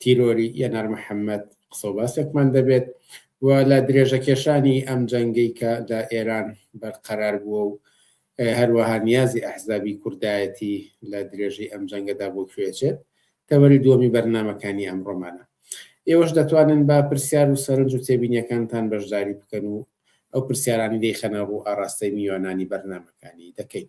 تیرۆری یەنار محەمەد قسەو باسێکمان دەبێت و لە درێژەکێشانی ئەم جەنگەی کە لە ئێران بەرقەرار بووە و هەروەها نیازی ئەحزابی کوردایەتی لە درێژەی ئەم جەنگەدا بۆ کوێچێت تەوەری دووەمی بەرنامەکانی ئەمڕۆمانە ئێوەش دەتوانن با پرسیار و سەرنج و تێبینیەکانتان بەشداری بکەن و ئەو پرسیارانی دەیخەنە ڕوو ئاراستەی میوانانی بەرنمەکانی دەکەین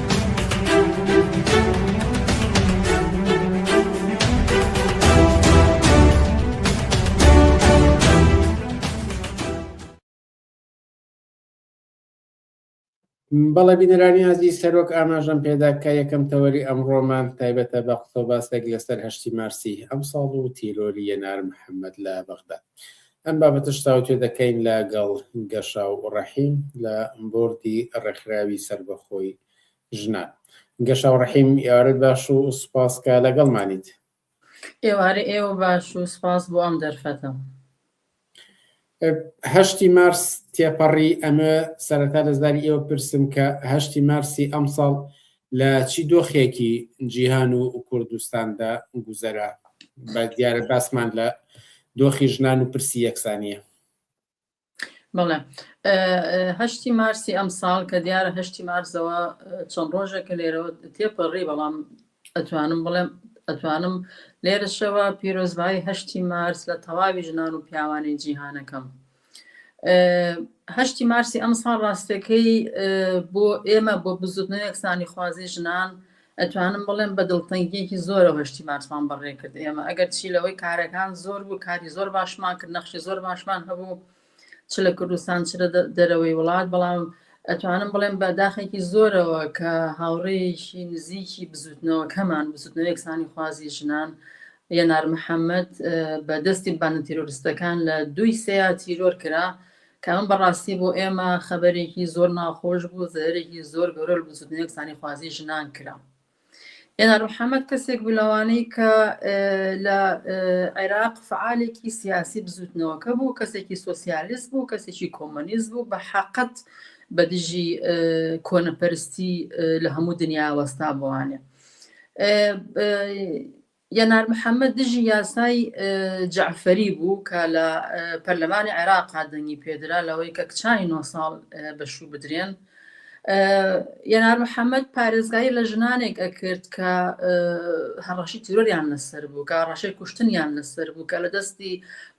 بەڵێ بینەرانی ئازی سەرۆک ئاماژەم پێدا کە یەکەم تەوەری ئەمڕۆمان تایبەتە بە قسە باسێک لەسەر هەشتی مارسی ئەم ساڵ و تیرۆری یەنار محەممەد لە بەغدا ئەم بابەتەش تاوتوێ دەکەین لە گەڵ گەشا و ڕەحیم لە بۆردی ڕێکخراوی سەربەخۆی ژنان. گەشا و ڕەحیم ئێوارەت باش و سوپاس کە لە گەڵمانیت. ئێوارەی ئێوە باش و سوپاس بۆ ئەم دەرفەتە. هەشتی مارس تێپەڕی ئەمە سەرەتا لە زاری ئێوە پرسم کە هەشتی مارسی ئەمساڵ لە چی دۆخێکی جیهان و کوردستاندا گوزەرە بە دیارە باسمان لە دۆخی ژنان و پرسی یەکسانیە بەڵێ هەشتی مارسی ئەم ساڵ کە دیارە هەشتی مارزەوە چەند ڕۆژێک کە لێرەوە تێپەڕی بەڵام ئەتوانم بڵێم ئەتوانم لێرەشەوە پیرۆزبایی هەشتی مارس لە تەواوی ژنان و پیاوانی جیهانەکەم هەشتی مارسی ئەمساڵ ڕاستەکەی بۆ ئێمە بۆ بزوتنەوە یەکسانی خوازی ژنان ئەتوانم بڵێم بە دڵتەنگیەکی زۆرە هەشتی مارسمان بەڕێ کرد ئێمە ئەگەر چی لەوەی کارەکان زۆر بوو کاری زۆر باشمان کرد نەخشی زۆر باشمان هەبوو چ لە کوردستان چ دەرەوەی وڵات بەڵام ئەتوانم بڵێم بە داخێکی زۆرەوە کە هاوڕێیەکی نزیکی بزوتنەوەکەمان بزوتنەوە یەکسانی خوازی ژنان یەنار محەممەد بە دەستی بانە تیرۆرستەکان لە دوی سەیە تیرۆر کرا کە ئەم بەڕاستی بۆ ئێمە خەبەرێکی زۆر ناخۆش بوو زەرێکی زۆر گەورە بزوتنەوە یەکسانی خوازی ژنان کرا. هێنا ڕوحەمەد کەسێک بوو لەوانەی کە لە عێراق فعالێکی سیاسی بزوتنەوەکە بوو کەسێکی سۆسیالیست بوو کەسێکی کۆمەنیست بوو بە حقت بە دژی کۆنەپەرستی لە هەموو دنیا وەستا بوانێ یەنار محەمەد دژی یاسای جەعفەری بوو کە لە پەرلەمانی عێراقا دەنگی پێدرا لەوەی کە کچانی نۆ ساڵ بەشوو بدرێن. یەنار محەممەد پارێزگایی لە ژنانێک ئەکرد کە هەڕەشی تیرۆریان لەسەر بوو کە ڕەشەی کوشتنیان لەسەر بوو کە لە دەستی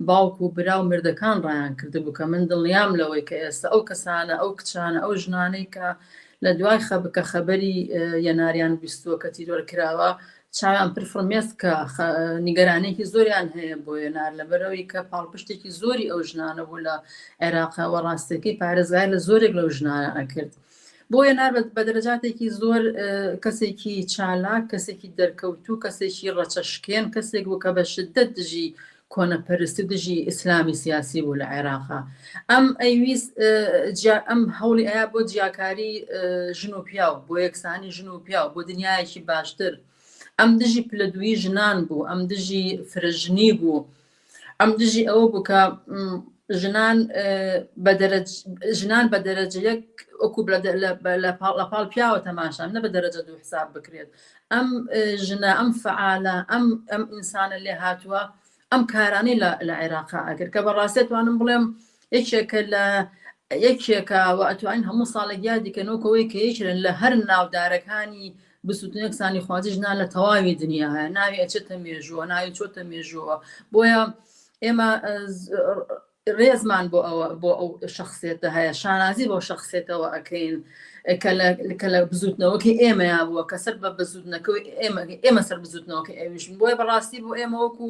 باوک و برا و مردەکان ڕایان کرد بوو کە من دڵنیام لەوەی کە ئێستا ئەو کەسانە ئەو کچانە ئەو ژنانەی کە لە دوای خەبکە خەبەری یەناریان بیستووە کە تیرۆر کراوە چاویان پر فرمێسکە، خە نیگەرانیەکی زۆریان هەیە بۆ یەنار لەبەرئەوەی کە پاڵپشتێکی زۆری ئەو ژنانە بوو لە عێراق وە ڕاستەکەی پارێزگای لە زۆرێک لەو ژنانە ئەکرد. بۆ یەنار بە دەرەجاتێکی زۆر کەسێکی چالاک، کەسێکی دەرکەوتوو، کەسێکی ڕەچەشکێن، کەسێک بوو کە بە شدەت دژی کۆنەپەرستی دژی ئیسلامی سیاسی بوو لە عێراقا ئەم ئەیویست جیا ئەم هەوڵی ئەیا بۆ جیاکاری ژن و پیاو بۆ یەکسانی ژن و پیاو بۆ دنیایەکی باشتر ئەم دژی پلە دووی ژنان بوو ئەم دژی فرەژنی بوو ئەم دژی ئەوە بوو کە ژنان ژنان بە دەرەجە یەک ئۆکو لە پاڵ پیاوە تەماشان نە بە دەرەجە دوو حساب بکرێت ئەم ژنە ئەم فعالە ئەم ئەم ئینسانە لێ هاتووە ئەم کارانەی لە عێراق ئەگر کە بەڕاستێت توانم بڵێم یەکێکە لە یەکێکە و ئەتوانین هەموو ساڵێک یادیکەنەوەکەوەی کە یەکێن لە هەر ناودارەکانی بزوتنە یەکسانیخوازی ژنان لە تەواوی دنیاە ناوی ئەچێتە مێژووە ناوی چۆتە مێژووە بۆیە ئێمە ڕێزمان بۆ ئەوە بۆ ئەو شخصێتە هەیە شانازی بۆ شخصێتەوە ئەکەین کە لە بزوتنەوەکی ئێمەیا بووە کە سەر بە بزوتنەکەی ئێمە ئێمە سەر بزوتنەوەکە ئەویشن بۆیە بەڕاستی بۆ ئێمە وەکو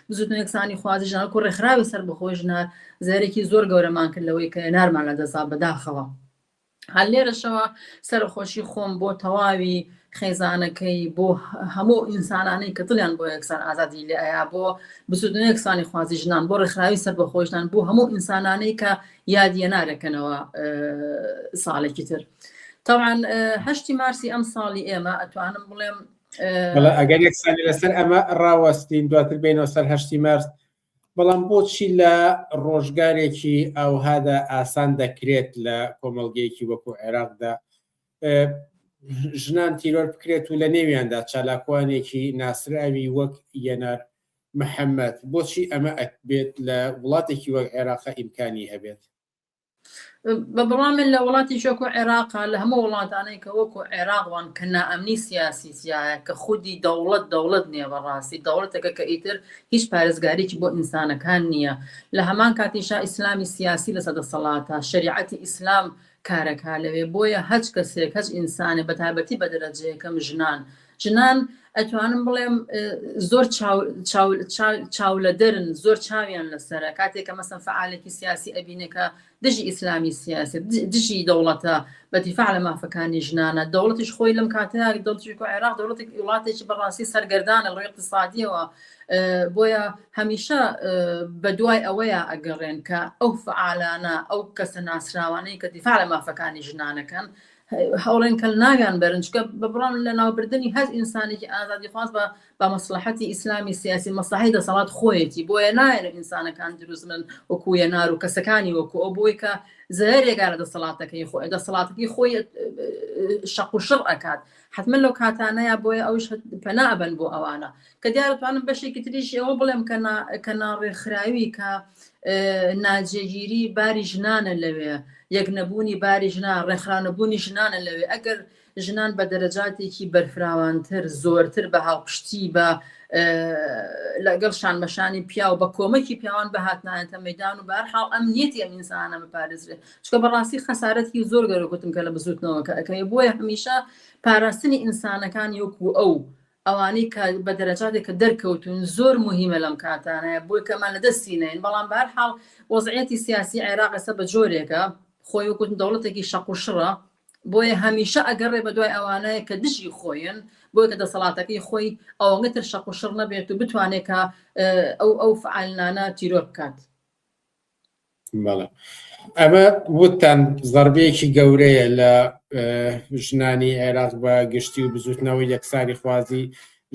بزوتنە یەکسانی خوازی ژنانکو ڕێکخراوی سەر بەخۆی ژنار زارێکی زۆر گەورەمان کرد لەوەی کە نارمان لە دەسا بەداخەوە هەر لێرەشەوە سەرەخۆشی خۆم بۆ تەواوی خێزانەکەی بۆ هەموو ئینسانانەی کە دڵیان بۆ یەکسان ئازادی لێ ئایا بۆ بسودن یەکسانی خوازی ژنان بۆ ڕێکخراوی سەر بەخۆشدان بۆ هەموو ئینسانانەی کە یادیە نارەکەنەوە ساڵێکی تر تاوان هەشتی مارسی ئەم ساڵی ئێمە ئەتوانم بڵێم ئەگەر یەکسانی لەسەر ئەمە ڕاوەستین دواتر بینەوە سەر هەشتی مارس بەڵام بۆچی لە ڕۆژگارێکی ئاوهادا ئاسان دەکرێت لە کۆمەڵگەیەکی وەکو عێراقدا ژنان تیرۆر بکرێت و لە نێویاندا چالاکوانێکی ناسراوی وەک یەنار محەممەد بۆچی ئەمە ئەکبێت لە وڵاتێکی وەک عێراق ئیمکانی هەبێت؟ بەبڕوام من لە وڵاتی شۆکۆ عێراقا لە هەموو وڵاتانەی کە وەکو عێراقوان کە نائەمنی سیاسی تایە کە خودی دەوڵەت دەوڵەت نییە بەڕاستی دەوڵەتەکە کە ئیتر هیچ پارێزگاریی بۆ ئینسانەکان نییە لە هەمان کاتیشا ئیسلامی سیاسی لەسە دەسەڵاتە شەریعەتی ئیسلام کارەکا لەوێ بۆیە هەچ کەسێک هەچ ئینسانێ بەتابەتی بەدەرەجەیەکەم ژنان ژنان ئەتوانم بڵێم زۆر چاولەدەرن زۆر چاویان لەسرە کاتێکە مەسم فعالێکی سیاسی ئەبینەکە دژی ئیسلامی سیاسی دژی دەوڵەتە بەتیفاع لە مافەکانی ژنانە دەوڵەتیش خۆی لەم کاتەیە دڵتیکو عێراق دەوڵەتی وڵاتێکی بەڕاستی سەرگەردانە ڕێ اقتصادیەوە بۆیە هەمیشە بە دوای ئەوەیە ئەگەڕێن کە ئەو فعالانە ئەو کەسە ناسراوانەی کە دیفاع لە مافەکانی ژنانەکەن هەوڵێن کەل ناویان بەرن چکە بە بڕان لە ناوبردننی هەز ئینسانێکی ئازادی خواز بە بە مەسلحەتی ئیسلامی سیاسی مەسلحی دەسەڵات خۆیەتی بۆیە نایەن ئینسانەکان دروزمن وەکوە نار و کەسەکانی وەکو ئەو بۆی کە زەرێگا لە دەسەڵاتەکەی خۆی دەسەڵاتەکەی خۆی شەق و شڕ ئەکات حتممە لەو کاتانەیە بۆیە ئەوش پەنابن بۆ ئەوانە کە دیارە توانم بەشێکی تریش ئەوە بڵێم کە کە ناڕێکخراوی کە ناجێگیری باری ژنانە لەوێ یەک نەبوونی باری ژنا ڕێکخراونەبوونی ژنانە لەوێ ئەگەر ژنان بە دەرەجاتێکی بەرفراوانتر زۆرتر بە هاوپشتی بە لەگەڵ شانبەشانی پیاو بە کۆمەکی پیاوان بەهاتنایەتە مەدان و بارحاڵ ئەم نیەتی ئەم ئینسانە بپارێزرێت چکە بەڕاستی خەسارەتی زۆر گەرەگوتم کە لە بزوتنەوەکە ئەەکەی بۆیە هەمیشە پاراستنی ئینسانەکان یوکو ئەو ئەوانەی کە بە دەرەجاتێکە دەرکەوتوون زۆر موهیمە لەم کاتانەیە بۆی کە ئەمان لە دەستی نەین بەڵام بە هەر حاڵ وەزعیەتی سیاسی عێراق ئێستا بە جۆرێکە خۆی وەک وتم دەوڵەتێکی شەق و شڕە بۆیە هەمیشە ئەگەڕێ بە دوای ئەوانەیە کە دژی خۆین بۆیە کە دەسەڵاتەکەی خۆی ئەوەنگە تر شەق و شڕ نەبێت و بتوانێت کە ئەو ئەو فعالنانە تیرۆر بکات ئەمە وتان زەربەیەکی گەورەیە لە ژنانی عێراق بە گشتی و بزوتنەوەی یەکسانی خوازی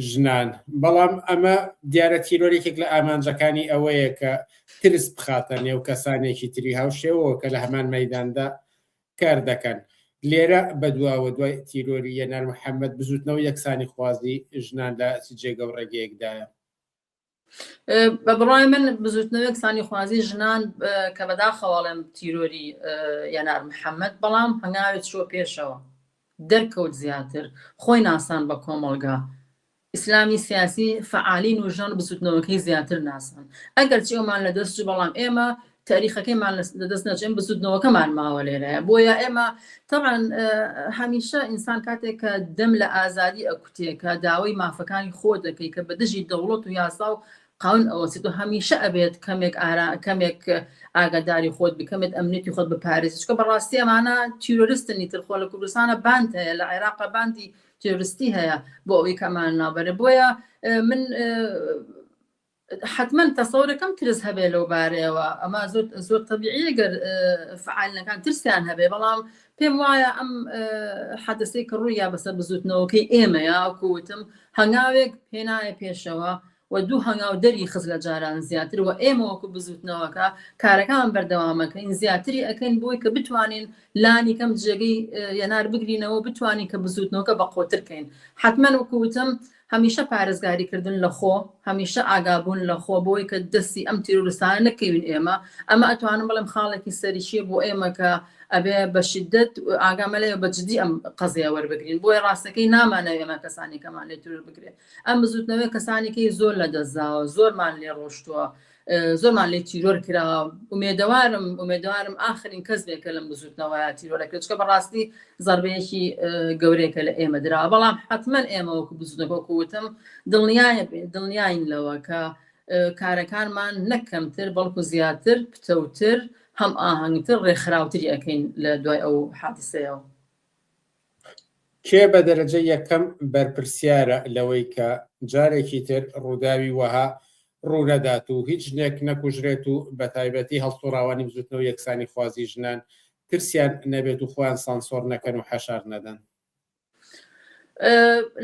ژنان بەڵام ئەمە دیارە تیرۆرێکێک لە ئامانجەکانی ئەوەیە کە ترس بخاتە نێو کەسانێکی تری هاوشێوەوە کە لە هەمان مەداندا کار دەکەن لێرە بەدواوە دوای تیرۆری یەنار محەممەد بزوتنەوە یەکسانی خوازی ژنان لە جێگە و ڕێگەیەکدایە بە بڕای من بزوتنەوەی کسانی خوازی ژنان کە بەداخەواڵێن تیرۆری یەنار محەممەد بەڵام هەنگاوێت چۆ پێشەوە دەرکەوت زیاتر خۆی ناسان بە کۆمەڵگا ئیسلامی سیاسی فعالین و ژان بزوتنەوەکەی زیاتر ناسان ئەگەر چێومان لە دەست بەڵام ئێمە تاریخەکەیمان لە دەست نەچێن بزوتنەوەکەمان ماوە لێرەیە بۆیە ئێمە تەعاان هەمیشە ئینسان کاتێک کە دەم لە ئازادی ئەکوتێکە داوای مافەکانی خۆ دەکەی کە بە دژی دەوڵەت و یاسا و قاون ئەوەسیت و هەمیشە ئەبێت کەمێک ئارا کەمێک ئاگاداری خۆت بکەمێت ئەمنێتی خۆت بپارێزشکە بەڕاستی ئەمانە تیرۆرستنی ترخۆ لە کوردستانە باند هەیە لە عێراقا باندی تێرستی هەیە بۆ ئەوی کەمان نابەرە بۆیە من حەتمەن تەسەورەکەم ترس هەبێ لەو بارەیەوە ئەمە زۆر زۆر تەبیعیە گەر فعالەکان ترسیان هەبێ بەڵام پێم وایە ئەم حەدەسەی کە ڕوویا بەسەر بزوتنەوەکەی ئێمەیە کووتم هەنگاوێک پێنایە پێشەوە و دوو هەنگاو دەری خز لە جاران زیاتر و ئێمە وەکو بزوتنەوەکە کارەکان بەردەوامەکەین زیاتری ئەەکەین بۆی کە بتوانین لانی کەم جێگەی یەنار بگرینەوە بتوانین کە بزوتنەوەکە بە قۆترکەین حتمما وکوتم هەمیشە پارێزگاری کردن لە خۆ، هەمیشە ئاگابوون لە خۆ بۆی کە دەستی ئەم تیرۆرستانە نەکەوین ئێمە، ئەمە ئەتوانم بڵێم خاڵێکی سەرکیە بۆ ئێمە کە ئەبێ بە شیدەت ئاگامان لێ بە جدی ئەم قەزیە وەربگرین بۆیە ڕاستەکەی نامانەوێ ئێمە کەسانێکەمان لێ تیرۆر بکرێ ئەم بزوتنەوەیە کەسانێکی زۆر لە دەست داوە زۆرمان لێ ڕۆشتوە زۆرمان لێ تیرۆر کرا ئومێدەوارم ئومێدەوارم ئاخرین کەس بێ کە لەم بزوتنەوەیە تیرۆرەکرێت چکە بەڕاستی زەربەیەکی گەورەیەکە لە ئێمە درا بەڵام حتمما ئێمە وەکو بزنەکۆکو وتم دڵنیایە دڵنیاین لەوە کە کارەکانمان نەک کەمتر بەڵکو زیاتر پتەوتر هەم ئاهەنگتر ڕێکخراوتری ئەەکەین لە دوای ئەو حادسەیەوە کێ بە دەرەجە یەکەم بەرپرسیارە لەوەی کە جارێکی تر ڕووداوی وەها ڕوونەدات و هیچ ژنێک نەکوژرێت و بەتایبەتی هەڵسوڕاوانی بزوتنەوە یەکسانی خوازی ژنان ترسیان نەبێت و خۆیان سانسۆڕ نەکەن و حەشار نەدەن.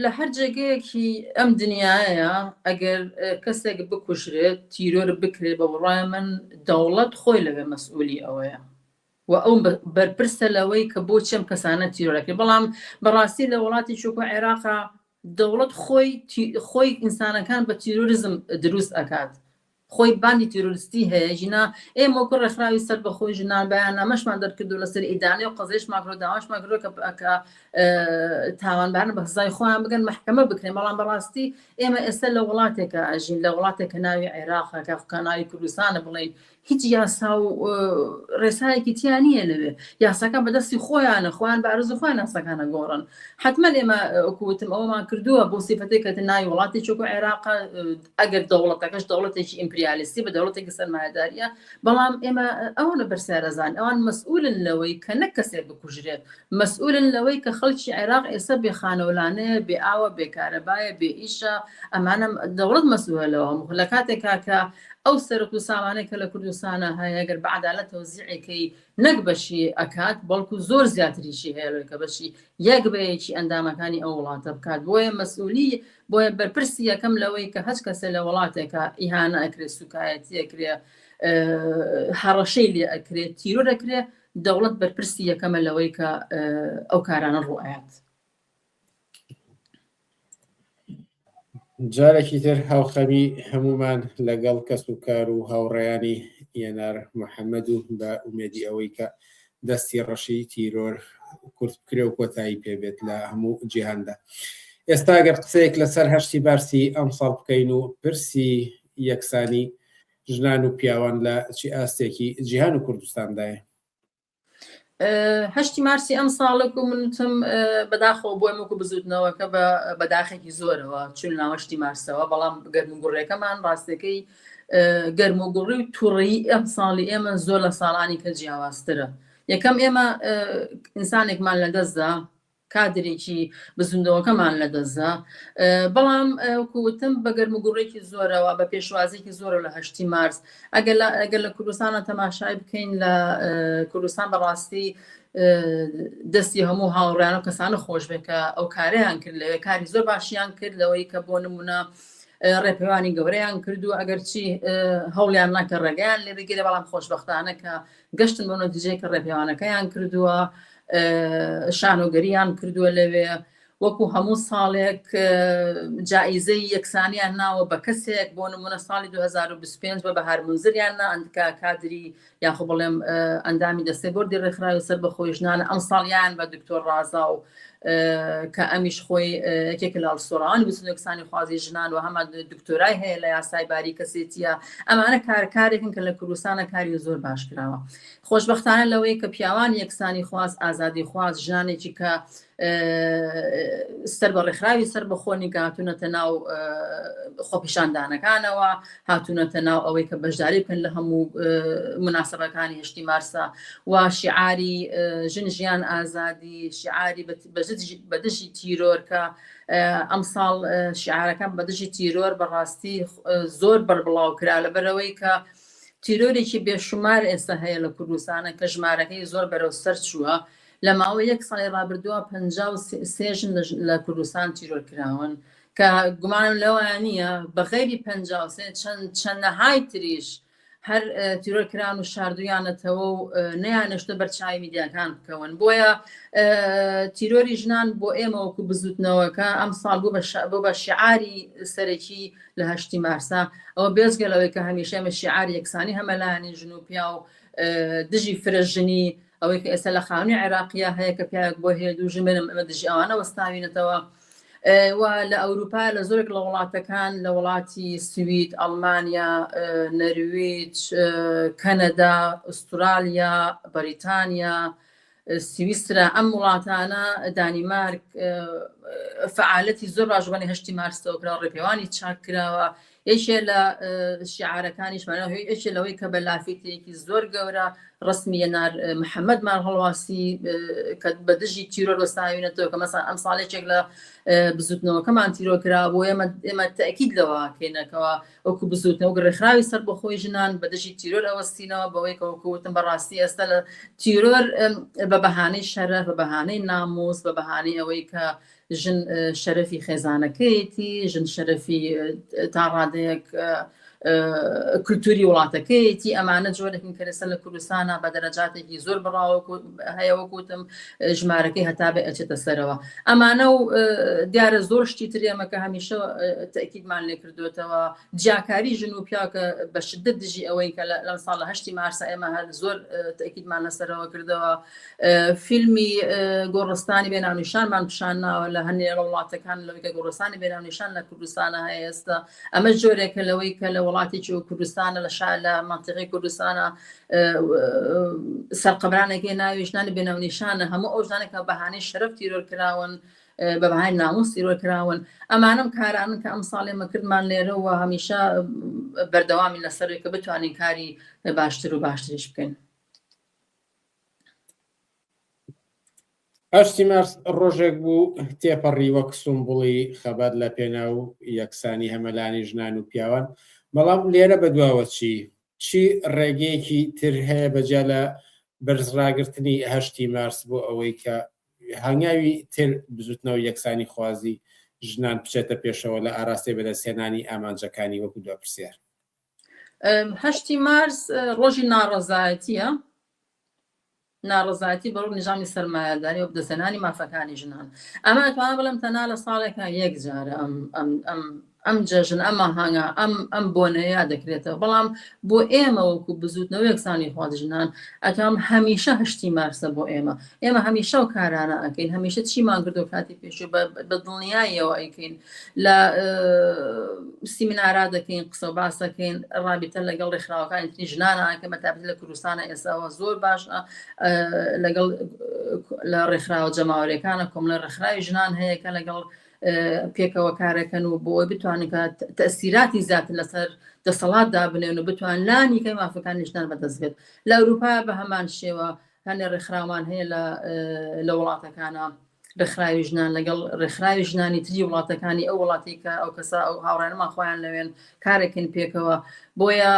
لە هەر جێگەیەکی ئەم دنیایە ئەگەر کەسێک بکوژرێت تیرۆر بکرێت بە بڕای من دەوڵەت خۆی لەوێ مەسئولی ئەوەیە و ئەو بەرپرسە لەوەی کە بۆ چەم کەسانە تیرۆرەکرد بەڵام بەڕاستی لە وڵاتی چووکە عێراقا دەوڵەت خۆی تی خۆی ئینسانەکان بە تیرۆریزم دروست ئەکات خۆی باندی تیرۆریستی هەیە ژینا ئێمە وەکو ڕێکخراوی سەربەخۆی ژنان بەیاننامەشمان دەرکردو لەسەر ئیدانەی و قەزێشمان کردو داواشمان کردوە کە پ کە تاوانبارن بە سزای خۆیان بگەن مەحکەمە بکرێن بەڵام بەڕاستی ئێمە ئێستا لە وڵاتێکە ئەژین لە وڵاتێک کە ناوی عێراقە کە کە ناوی کوردستانە بڵێین هیچ یاسا و ڕێسایەکی تیا نییە لەوێ یاساکان بەدەستی خۆیانە خۆیان بە ئارزو خۆیان یاساکانە گۆڕن حتمما ئێمە کوتم ئەومان کردووە بۆ سیفەتی کە ناوی وڵاتی چۆک و عێراق ئەگەر دەوڵەتەکەش دەوڵەتێکی ئیمپریالیستی بە دەوڵەتێکی سەرمایداریە بەڵام ئێمە ئەوە لە بەرسەرەزان ئەوان مەسئولن لەوەی کە نەک کەسێک بکوژرێت مەسئولن لەوەی کە خەڵکی عێراق ئێستا بێ خانەولانەیە بێ ئاوە بێ کارەبایە بێ ئیشە ئەمانە دەوڵەت مەسئولە لەوە هەموو لە کاتێکا کە ئەو سەرەت و سامانەی کە لە کوردستانا هەیە گەر بە عەدالەت تەوزیعی کەی نەک بەشی ئەکات بەڵکو زۆر زیاتریشی هەیە لەوەی کە بەشی یەک بە یەکی ئەندامەکانی ئەو وڵاتە بکات بۆیە مەسئولی بۆیە بەرپرسی یەکەم لەوەی کە هەچ کەسێ لە وڵاتێکا ئیهانە ئەکرێ سوکایەتی ئەکرێ هەڕەشەی لێ ئەکرێ تیرۆر ئەکرێ دەوڵەت بەرپرسی یەکەمە لەوەی کە ئەو کارانە ڕوئات. جارێکی تر هاوخەمی هەمومان لەگەڵ کەس و کار و هاوڕێیانی یەنار محەممەد و بە ئومێدی ئەوەی کە دەستی ڕەشی تیرۆر کورت بکرێ و کۆتایی پێبێت لە هەموو جیهاندا. ئێستا گەر قسەیەک لەسەر هەشتی بارسی ئەمساڵ بکەین و پرسی یەکسانی ژنان و پیاوان لە چی ئاستێکی جیهان و کوردستاندایە؟ هەشتی مارسی ئەم ساڵک و منتم بەداخۆ بۆی مک و بزوتنەوەکە بە بەداخێکی زۆرەوە چون ناوەشتی مارسەوە بەڵام گەرم و گوڕێکەمان ڕاستەکەی گەرم و گوڕی و توڕی ئەم ساڵی ئێمە زۆر لە ساڵانی کە جیاوازترە یەکەم ئێمە ئینسانێکمان لە دەستدا کادرێکی بزووندەوەکەمان لەدەستدا، بەڵام وەکو وتم بە گەرموگوڕێکی زۆرەوە، بە پێشوازیەکی زۆرەوە لە هەشتی مارس. ئەگەر لە کوردستانە تەماشای بکەین، لە کوردستان بەڕاستی دەستی هەموو هاوڕێیان و کەسانە خۆش بێت کە ئەو کارەیان کرد لەوێ، کاری زۆر باشیان کرد لەوەی کە بۆ نموونە ڕێپێوانی گەورەیان کرد و ئەگەرچی هەوڵیان نا کە ڕێگەیان لێ بگیرێ، بەڵام خۆشبەختانە کە گەشتن بەو نەتیجەیە کە ڕێپێوانەکەیان کردووە، شانۆگەرییان کردووە لەوێ، وەکو هەموو ساڵێک جائیزەی یەکسانیان ناوە بە کەسێک، بۆ نموونە ساڵی 2025 بە بەهار مونزریان نا، کە کادری یاخۆ بڵێم ئەندامی دەستەی بۆردی ڕێکخراوی سەربەخۆی ژنانە، ئەمساڵیان بە دکتۆر ڕازاو کە ئەمیش خۆی یەکێک لە هەڵسۆڕان وسنەکسانی خوازی ژنان و هەمان دکتۆرای هەیە لە یاسای باری کەسێتیە ئەمانە کارکارێکن کە لە کوردستانە کاری زۆر باش کراوە خۆشببختانە لەوەی کە پیاوان یەکسانی خواز ئازادی خواز ژانێکی کە سەر بە ڕێکخراوی سەر بەخۆنی گاتونەتە ناو خۆپیشاندانەکانەوە هاتوونەتە ناو ئەوەی کە بەشداری بکەن لە هەموو مناسبەکانی هشتی مارسا و شیعاری ژن ژیان ئازادی شیعاری بەدژی تیرۆر کە ئەمساڵ شیعارەکان بەدژی تیرۆر بەڕاستی زۆر بەربڵاو کرا لە بەرەوەی کە تیرۆرێکی بێشمار ئێستا هەیە لە کوردستانە کە ژمارەکەی زۆر بەرەو سەر چووە لە ماوە یەک ساڵی رابردووە پ سێژن لە کوردستان تیرۆر کراون کە گومانم لەوەیان نییە بە غەیری پەنجا و سێ چەند چەندەهای تریش هەر تیرۆر کران و شاردویانەتەوە و نەیانشتە بەرچاوی میدیاکان بکەون بۆیە تیرۆری ژنان بۆ ئێمە وەکو بزوتنەوەکە ئەم ساڵ بوو بۆ بە شعاری سەرەکی لە هەشتی مارسا ئەوە بێزگە لەوەی کە هەمیشە ئمە شعار یەکسانی هەمەلایانی ژن و پیا و دژی فرە ژنی ئەوەی کە ئێستا لە خانوی عێراقیە هەیە کە پیاوێک بۆ هەیە دوو ژمێنم ئەمە دژی ئەوانە وەستاوینەتەوە و لە ئەوروپا لە زۆرێک لە وڵاتەکان لە وڵاتی سوید، ئەڵمانیا، نەرویج، کەنەدا، ئوسترالیا، بەریتانیا، سویسرا ئەم وڵاتانە دانیمارک فعالەتی زۆر باش بەنێ هەشتی مارسەوە کراوە ڕێپێوانی چاک کراوە یەکێ لە شیعارەکانیش مانا هۆی یەکێ لەوەی کە بە لافیتێکی زۆر گەورە ڕسمی یەنار محەممەدمان هەڵواسی کە بە دژی تیرۆر وەستاوینەتەوە کە مەسان ئەم ساڵێکێک لە بزوتنەوەکەمان تیرۆکرا بۆ ئێمە ئێمە تاکیید لەوەکەینەکەەوە وەکو بزوتنەوە گڕێخراوی سەر بەخۆی ژنان بە دژی تیرۆر ئەوەستینەوە بەوەی کەوەکوتم بەڕاستی ئێستا لە تیرۆر بە بەهانەی شەرە بە بەهانەی نامۆس بە بەهانەی ئەوەی کە ژن شەرەفی خێزانەکەیەتی، ژن شەرەفی تا ڕادەیەک کولتوری وڵاتەکەیەتی، ئەمانە جۆرێک من کەرەسە لە کوردستانە بە دەرەجاتێکی زۆر بڕاوە هەیەوە گوتم ژمارەکەی هەتا بێ ئەچێتە سەرەوە ئەمانە و دیارە زۆر شتی ترێمەکە هەمیشە تەکیدمان لێ کردوێتەوە جیاکاری ژن و پیاکە بە شدت دژی ئەوەی کە لەم ساڵ لە هەشتی مارسە ئێمە هەر زۆر تەکیدمان لەسەرەوە کردەوە. فیلمی گۆڕستانی بێ ناونیشانمان پیشان ناوە لە هەندێک لە وڵاتەکان لەوەی کە گۆڕستانی بێ ناونیشان لە کوردستانە هەیە ئێستا ئەمە جۆرێکە لەوەی کە لە وڵاتێکی و کوردستانە لە شار لە منطقی کوردستانە سەرقەبرانێکی ناوی ژنانی بێ ناونیشانە هەموو ئەو ژنانە کە بەهانەی شەرەف تیرۆر کراون بە بەهای ناموس تیرۆر کراون ئەمانم کارانن کە ئەم ساڵێ مەکردمان لێرە و هەمیشە بەردەوامی لەسەرێک کە بتوانین کاری باشتر و باشتریش بکەین. هەشتی مارس ڕۆژێک بوو تێپەڕی وەک سومبڵی خەبات لە پێناو یەکسانی هەمەلانی ژنان و پیاوان، بەڵام لێرە بەدواوە چی؟ چی ڕێگەیەکی تر هەیە بە جیا لە بەرزڕاگرتنی هەشتی مارس بۆ ئەوەی کە هەنگاوی تر بزوتنەوەی یەکسانیخوازی ژنان بچێتە پێشەوە لە ئاراستەی بەدەستهێنانی ئامانجەکانی وەکو دوا پرسیار؟ هەشتی مارس ڕۆژی ناڕەزایەتیە ناڕزاتی بەڕوو نظامی سەرمایەداری و دەسەنانی مافەکانی ژنان ئەمە توان بڵم تەنا لە ساڵێکە یەک جارە ئەم ئەم ئەم ئەم جەژن ئەمە هەنگا ئەم ئەم بۆنەیە دەکرێتەوە بەڵام بۆ ئێمە وەکو بزوتنەوە یەکسانی خواز ژنان ئەتام هەمیشە هەشتی مارسە بۆ ئێمە ئێمە هەمیشە و کارانە ئەکەین هەمیشە چیمان کردو کاتی پێش بە دڵنیایەوە ئەیکەین لە سیمینارا دەکەین قسە و باس دەکەین ڕابیتە لەگەڵ ڕێکخراوەکانی تری ژنانە کە بەتابێت لە کوردستانە ئێساوە زۆر باشە لەگەڵ لە ڕێکخراوە جەماوەرەکانە کۆملە ڕێکخراوی ژنان هەیە کە لەگەڵ پێکەوە کارەکەن و بۆی بتوانن کە تەسیراتی زیاتر لەسەر دەسەڵات دابنێن و بتوان لانی کە مافەکانی ژنان بەدەست بێت لە ئەوروپا بە هەمان شێوە هەنێ ڕێکخراوان هەیە لە وڵاتەکانە ڕێکخراوی ژنان لەگەڵ ڕێکخراوی ژنانی تری وڵاتەکانی ئەو وڵاتی کە ئەو کەسا ئەو هاوڕێنمان خۆیان لەوێن کارێکن پێکەوە بۆیە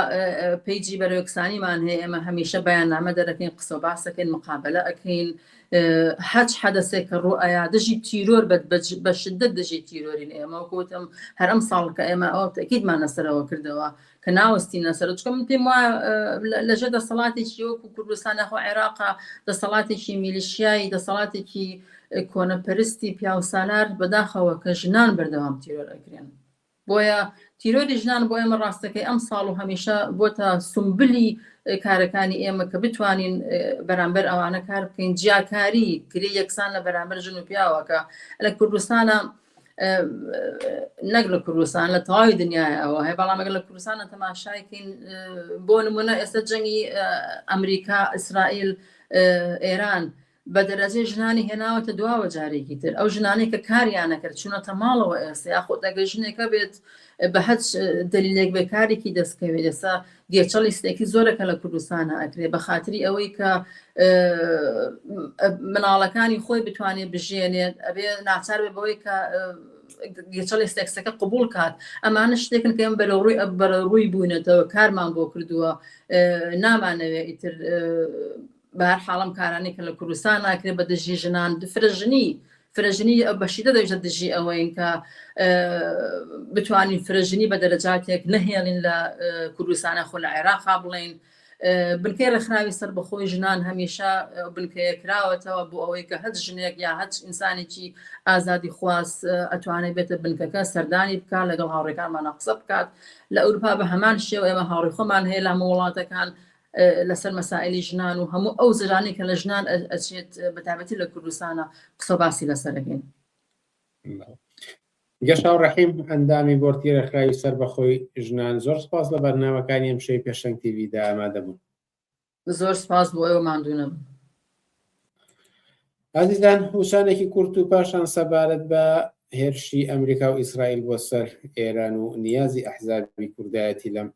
پیجی بەرەوەکسانیمان هەیە ئێمە هەمیشە بەیان نامە دەرەکەین قسە و باسەکەین مقابلە ئەکەین حەج حەدەسێک کە ڕوو ئایا دژی تیرۆر بەت بە شدت دژی تیرۆرین ئێمە وکوتم هەرم ساڵ کە ئێمە ئەو تەکیدمان لەسەرەوە کردەوە کە ناوەستینە سەرو چکە من پێم وایە لەژێر دەسەڵاتێکی وەکو کوردستان یاخۆ عێراقا دەسەڵاتێکی میلیشیایی دەسەڵاتێکی کۆنەپەرستی پیاوسالار بەداخەوە کە ژنان بەردەوام تیرۆر ئەگرێن بۆیە تیرۆری ژنان بۆ ئێمە ڕاستەکەی ئەم ساڵ و هەمیشە بۆ تا سمبلی کارەکانی ئێمە کە بتوانین بەرامبەر ئەوانە کار بکەین جیاکاری گرێ یەکسان لە بەرامبەر ژن و پیاوەکە لە کوردستانە نەک لە کوردستان لە تەواوی دنیای ئەوە هەیە بەڵام ئەگەر لە کوردستانە تەماشایکەین بۆ نمونە ئێستا جەنگی ئەمریکا ئیسرائیل ئێران بە دەرەجەی ژنانی هێناوەتە دواوە جارێکی تر ئەو ژنانەی کە کاریانە کرد چونەتە ماڵەوە ئێستا یاخۆ دەگە ژنێکە بێت بە هەچ دلیلێک بێکارێکی دەستکەوێت ئێستا گێچە لیستێکی زۆرە کە لە کوردستانا ئەکرێ بە خاتری ئەوەی کە مناڵەکانی خۆی بتوانێ بژێنێت ئەبێ ناچار بێ بەوەی کە گێچە لیستێکسەکە قبول کات ئەمانە شتێکن کە ئەم بەرە ڕووی بەرە ڕووی بوونەتەوە کارمان بۆ کردووە نامانەوێ ئیتر بەهەرحاڵ ئەم کارانەی کە لە کوردستان ناکرێت بە دژی ژنان فرە ژنی فرە ژنی بەشیدە دەژە دژی ئەوەین کە بتوانین فرە ژنی بە دەرەجاتێک نەهێڵین لە کوردستانە خۆ لە عێراقا بڵین بنکەی ڕێکخراوی سەر بەخۆی ژنان هەمیشە بنکەیە کراوەتەوە بۆ ئەوەی کە هەچ ژنێک یا هەچ ئینسانێکی ئازادی خواز ئەتوانێت بێتە بنکەکە سەردانی بکە لەگەڵ هاوڕێکانمانە قسە بکات لە ئەوروپا بە هەمان شێوە ئێمە هاوڕی خۆمان هەیە لە هەموو وڵاتەکان لەسەر مەسائیلی ژنان و هەموو ئەو زرانەی کە لە ژنان ئەچێت بەتابەتی لە کوردستانە قسە باسی لەسەرەکەین. گەشاو ڕەحیم ئەندامی بۆرتی ڕێکخراوی سەر بەخۆی ژنان زۆر سپاس لە بەرنامەکانی ئەم شەوی پێشەنگ تیڤیدا ئامادەبوون زۆر سپاس بۆ ئەوە ماندونم ئازیزان وشانێکی کورت و پاشان سەبارەت بە هێرشی ئەمریکا و ئیسرائیل بۆ سەر ئێران و نیازی ئەحزابی کوردایەتی لەم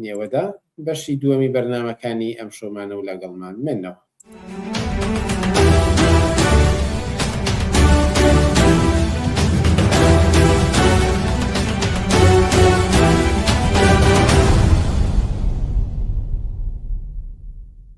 نێوەدا بەشی دووەمی بەرنامەکانی ئەمشۆمانە و لەگەڵمان منەوە.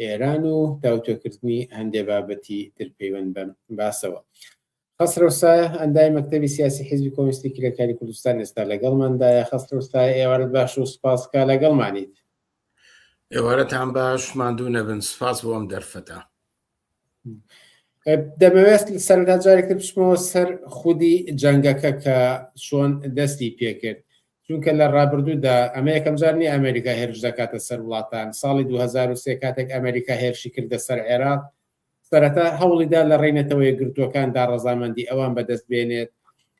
ئێران و تاوتوێکردنی هەندێ بابەتی تر پەیوەند بە باسەوە. خەسرەوسایە ئەندای مەکتتەبی سیاسی حیزبی کۆمیستی کرێکاری کوردستان ئێستا لەگەڵماندایە خەسرەوسای ئێوارت باش و سپاسکە لەگەڵمانیت ئێوارەتان باش ماندوو نەبن سپاس بۆم دەرفەتە دەمەوێت سەردا جارێکتر بچمەوە سەر خودی جەنگەکە کە چۆن دەستی پێکرد چونکە لە ڕابردوودا ئەمە یەکەم جار نیە ئەمریکا هێرش دەکاتە سەر وڵاتان ساڵی 2023 کاتێک ئەمریکا هێرشی کردە سەر عێراق سەرەتا هەوڵیدا لە ڕێی نەتەوە یەکگرتووەکاندا ڕەزامەندی ئەوان بەدەست بێنێت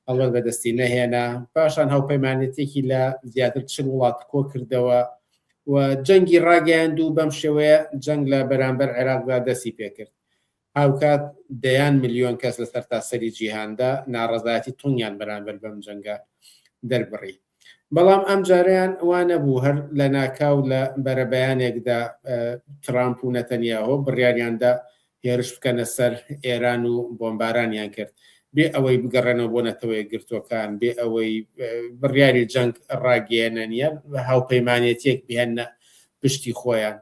ئەڵەت بەدەستی نەهێنا پاشان هاوپەیمانێتێکی لە زیاتر چل وڵات کۆ کردەوە و جەنگی ڕاگەیاند و بەم شێوەیە جەنگ لە بەرامبەر عێراقدا دەستی پێکرد هاوکات دەیان ملیۆن کەس لە سەرتاسەری جیهاندا ناڕەزایەتی توندیان بەرامبەر بەم جەنگە دەربڕی. بەڵام ئەمجارەیان وا نەبوو، هەر لەناکاو لە بەرەبەیانێکدا ترامپ و نەتەنیاهۆ بڕیاریاندا هێرش بکەنە سەر ئێران و بۆمبارانیان کرد، بێ ئەوەی بگەڕێنەوە بۆ نەتەوە یەکگرتووەکان، بێ ئەوەی بڕیاری جەنگ ڕاگەیەنن یان هاوپەیمانێتییەک بهێننە پشتی خۆیان.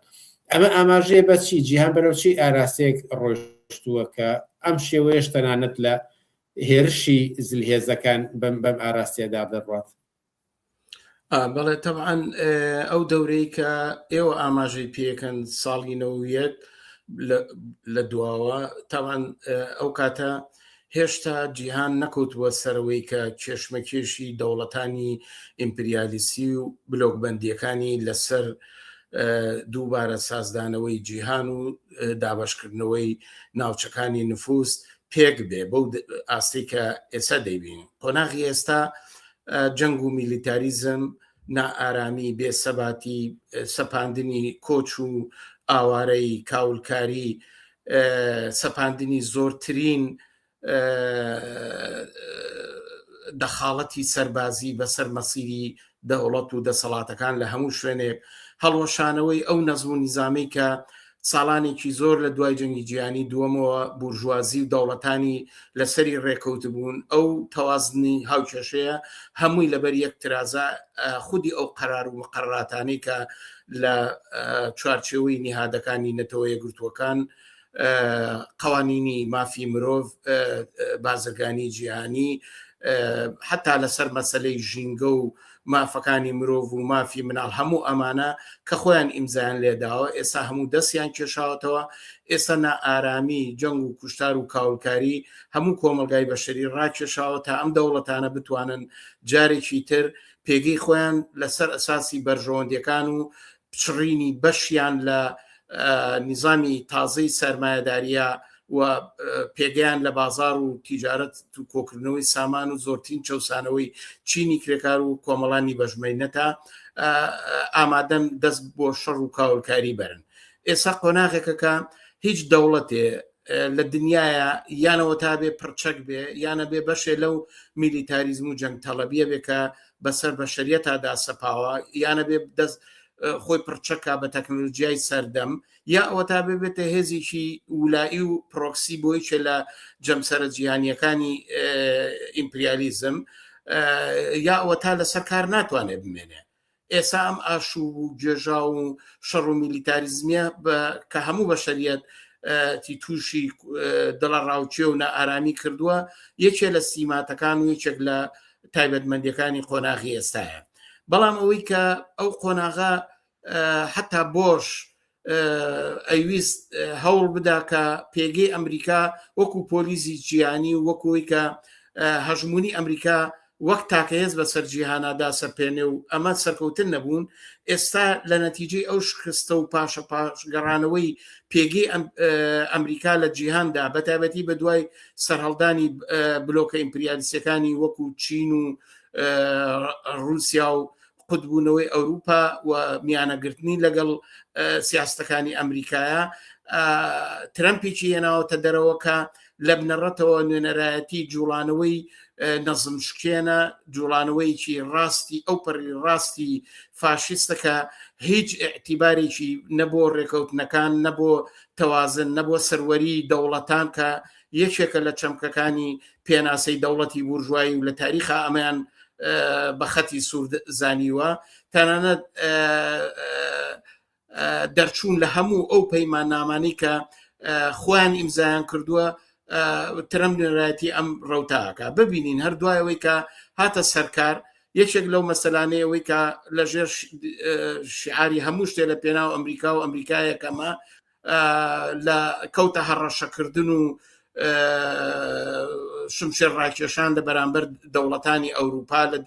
ئەمە ئاماژەیە بە چی؟ جیهان بەرەو چی ئاراستەیەک ڕۆیشتووە کە ئەم شێوەیەش تەنانەت لە هێرشی زلهێزەکان بەم بەم ئاراستەیەدا دەڕوات؟ بەڵێ تەبعاان ئەو دەورەی کە ئێوە ئاماژەی پێکەن ساڵی نەوەک لە دواوە تاوان ئەو کاتە هێشتا جیهان نەکەوتبووە سەرەوەی کە کێشمەکێشی دەوڵەتانی ئیمپریالیستی و بلۆکبەندییەکانی لەسەر دووبارە سازدانەوەی جیهان و دابشکردنەوەی ناوچەکانی نفوست پێک بێ بەو ئاستی کە ئێستا دەیبین قۆناغی ئێستا جەنگ و میلیتاریزم نائارامی بێسەباتی سەپاندنی کۆچ و ئاوارەی کاولکاری سەپاندنی زۆرترین دەخاڵەتی سەربازی بەسەر مەسیری دەوڵەت و دەسەڵاتەکان لە هەموو شوێنێک هەڵوەشانەوەی ئەو نەزم و نیزامی کە ساڵانێکی زۆر لە دوای جەنگی جیانی دووەمەوە بورژوازی و دەوڵەتانی لەسەری ڕێکەوت بوون ئەو تەوازنی هاوکێشەیە هەمووی لەبەر یەک ترازە خودی ئەو قەرار و مقڕاتانەی کە لە چوارچێوەی نیهادەکانی نەتەوە یەکگرتووەکان قوانینی مافی مرۆڤ بازرگانی جیهانی حتا لەسەر مەسلەی ژینگە و مافەکانی مرۆڤ و مافی مناڵ هەموو ئەمانە کە خۆیان ئیمزان لێداوە ئێستا هەموو دەستیان کێشاوەتەوە ئێستا نائارامی جەنگ و کوشتار و کاولکاری هەموو کۆمەلگای بەشری ڕاکێشاوە تا ئەم دەوڵەتانە بتوانن جارێکی تر پێگەی خۆیان لەسەر ئەساسی بەرژەوەندیەکان و پچڕینی بەشیان لە نیزامی تازەی سەرمایهداریە و پێگەیان لە بازار و تیجارەت و کۆکردنەوەی سامان و زۆرترین چەسانەوەی چینی کرێکار و کۆمەڵانی بەژمەینەتە ئامادەن دەست بۆ شەڕ و کاولکاری بەرن ئێستا قۆناغێکەکە هیچ دەوڵەتێ لە دنیاە یانەوە تا بێ پڕچەک بێ یانە بێ بەشێ لەو میلیتاریزم و جەنگ تەڵەبیە بێ کە بەسەر بەشریە تادا سەپاوە یانە بێ دەست خۆی پڕچەکە بە تەکنۆلژیای سەردەم یا ئەوە تا ببێتە هێزیی ولایی و پرۆکسی بۆی چێ لە جەمسەرە جیهانیەکانی ئیمپریالیزم یا ئەوە تا لەسەر کار ناتوانێت بمێنێ ئێسا ئەم ئاشوب و گێژا و شەڕ و میلیتاریزمیە کە هەموو بەشەریەت تی تووشی دڵە ڕاوچێ و نائارامی کردووە یەکێ لە سیماتەکان و یەکێک لە تایبەتمەندەکانی قۆناغی ئێستاە بەڵام ئەوەی کە ئەو قۆناغا حتا بۆش ئەیویست هەوڵ بدا کە پێگەی ئەمریکا وەکو پۆلیزی جیانی و وەکوی کە هەژمونی ئەمریکا وەک تاکەهێز بە سەرجیهانادا سەرپێنێ و ئەمە سەرکەوتن نەبوون ئێستا لە نەتیجی ئەو شکستە و پاشە پاشگەڕانەوەی پێگەی ئەمریکا لە جیهاندا بەتابەتی بە دوای سەرهەڵدانی بلۆکە ئیمپریالیسەکانی وەکو چین و رووسیا و قوتبوونەوەی ئەوروپا و میانەگرتنی لەگەڵ سیاستەکانی ئەمریکایە ترەمپێکی هێناوەتە دەرەوەکە لە بنەڕەتەوە نوێنەرایەتی جوڵانەوەی نەزم شکێنە جوڵانەوەیکی ڕاستی ئەو پەری ڕاستی فاشیستەکە هیچ اعتیبارێکی نەبوو ڕێکەوتنەکان نەبوو تەوازن نەبووە سەروەری دەوڵەتان کە یەکێکە لە چەمکەکانی پێناسەی دەوڵەتی بورژوایی و لە تاریخا ئەمەیان بە خەتی سوور زانیوە تەنانەت دەرچوون لە هەموو ئەو پەیمان نامانی کە خۆیان ئیمزایان کردووە ترم نوێنەرایەتی ئەم ڕوتاکە ببینین هەر دوایەوەی کە هاتە سەرکار یەکێک لەو مەسەلانەیەوەی کە لەژێر شعاری هەموو شتێ لە پێناو ئەمریکا و ئەمریکایەکەمە لە کەوتە هەڕەشەکردن و شمشێر ڕاکێشان لە بەرامبەر دەوڵەتانی ئەوروپا لە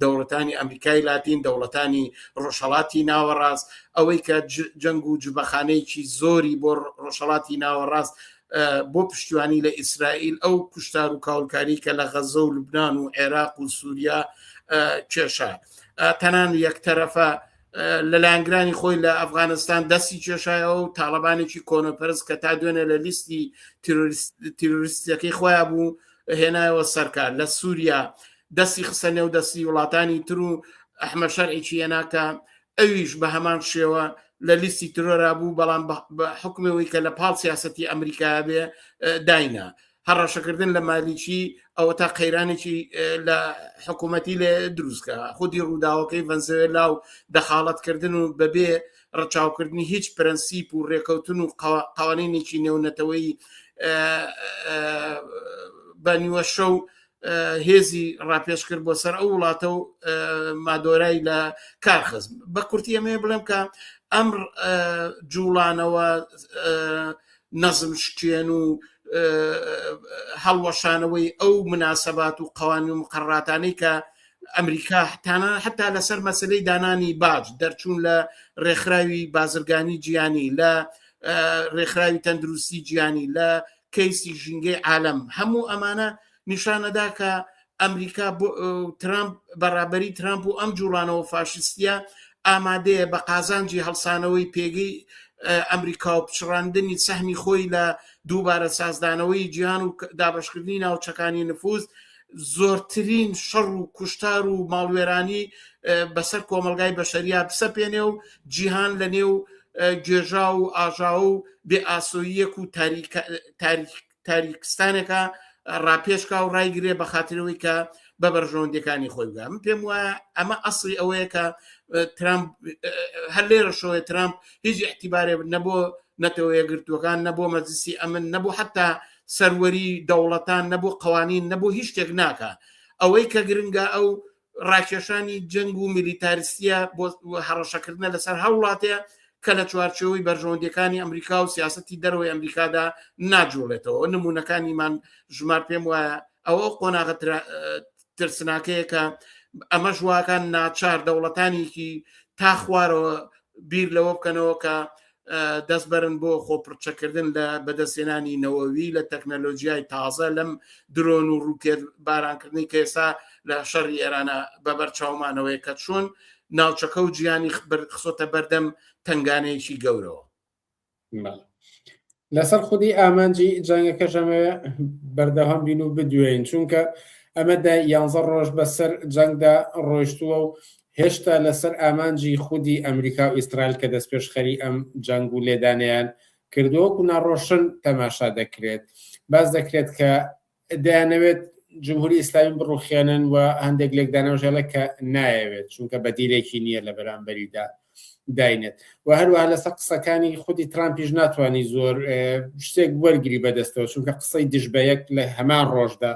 دەوڵەتانی ئەمریکای لاتین دەوڵەتانی ڕۆژهڵاتی ناوەڕاست ئەوەی کە جەنگ و جبەخانەیەکی زۆری بۆ ڕۆژهڵاتی ناوەڕاست بۆ پشتیوانی لە ئیسرائیل ئەو کوشتار و کاولکاری کە لە غەزە و لوبناان و عێراق و سووریا کێشە تەنان یەکتەرەفە لە لایەنگرانی خۆی لە ئەفغانستان دەستی کێشایەوە و تاالبانێکی کۆنەپەرز کە تا دوێنێ لە لیستی تیرۆریستەکەی خۆیان بوو هێنایەوە سەرکار لە سووریا دەستی خسە نێو دەستی وڵاتانی تر و ئەحمە شەرعێکی یەناکە ئەویش بە هەمان شێوە لە لیستی ترۆرا بوو بەڵام بە حکمەوەی کە لە پاڵ سیاستی ئەمریکا بێ داینا هەڕەشەکردن لە مالیکی ئەوە تا قەیرانێکی لە حکوومەتی لێ دروستکە خودی ڕووداوەکەی ڤەنزوێلا و دەخاڵەتکردن و بەبێ ڕچاوکردنی هیچ پرەنسیپ و ڕێکەوتن و قوانینێکی نێونەتەوەی بە نیوە شەو هێزی ڕاپێش کرد بۆ سەر ئەو وڵاتە و مادۆرای لە کارخزم بە کورتی ئەمێ بڵێم کە ئەم جوڵانەوە نەزم شکێن و هەڵوەشانەوەی ئەو مناسەبات و قوانین و مقرڕاتانەی کە ئەمریکا حتانە حتا لەسەر مەسلەی دانانی باج دەرچوون لە ڕێکخراوی بازرگانی جیانی لە ڕێکخراوی تەندروستی جیانی لە کەیسی ژینگەی عالم هەموو ئەمانە نیشانەدا کە ئەمریکا ترامپ بەڕابەری ترامپ و ئەم جوڵانەوە فاشستە ئامادەیە بە قازانجی هەڵسانەوەی پێگەی ئەمریکا و پچڕاندنی سەهمی خۆی لە دووبارە سازدانەوەی جیان و دابشکردنی ناوچەکانی نفوز زۆرترین شەڕ و کوشتار و ماڵوێرانی بەسەر کۆمەلگای بەشەریا بسەپێنێ و جیهان لە نێو گێژا و ئاژاو و بێ ئاسۆیەک و تاریک تاریکستانێکە ڕاپێشکا و ڕایگرێ بە خااترەوەی کە بە بەرژەوەندەکانی خۆی بگە من پێم وایە ئەمە ئەسڵی ئەوەیە کە ترامپ هەر لێرە شۆێ ترامپ هیچ احتیبارێ نەبوو نەتەوە یەگرتووەکان نەبوو مەزسی ئەمن نەبوو حتا سەروەری دەوڵەتان نەبوو قوانین نەبوو هیچ شتێک ناکە ئەوەی کە گرنگە ئەو ڕاکێشانی جەنگ و میلیتاریستیە بۆ هەڕەشەکردنە لەسەر هەوڵاتەیە کە لە چوارچەوەی بەرژەوەندەکانی ئەمریکا و سیاستی دەرەوەی ئەمریکادا ناجوڵێتەوە نمونونەکانیمان ژمار پێم وایە ئەوە قۆناغە ترسناکەیە کە ئەمە ژواکان ناچار دەوڵەتانێکی تا خوارەوە بیر لەوە بکەنەوە کە دەستبەرن بۆ خۆپڕچەکردن لە بەدەستێنانی نەوەوی لە تەکنەلۆژیای تازە لەم درۆن و ڕووکێت بارانکردنی کە ئێستا لە شەڕی ئێرانە بەبەر چاومانەوەی کە چۆن ناوچەکە و جیانی خسۆتە بەردەم تنگانەیەکی گەورەوە لەسەر خودی ئامانجی جەنگەکە ژەمە بەردەوام بین و بدوێن چونکە ئەمەدا یانزە ڕۆژ بەسەر جەنگدا ڕۆشتووە و هێشتا لەسەر ئامانجی خودی ئەمریکا و ئیسرائیل کە دەستپێشخەری ئەم جەنگ و لێدانەیان کردووە وەکو ناڕۆشن تەماشا دەکرێت. باس دەکرێت کە دەیانەوێت جمهوری ئیسلامی بڕوخێنن و هەندێک لێکدانەوەش هەڵێ کە نایەوێت چونکە بەدیلێکی نییە لە بەرامبەریدا داینێت و هەروەها لەسەر قسەکانی خودی ترامپیش ناتوانانی زۆر شتێک وەرگری بەدەستەوە چونکە قسەی دژ بە یەک لە هەمان ڕۆژدا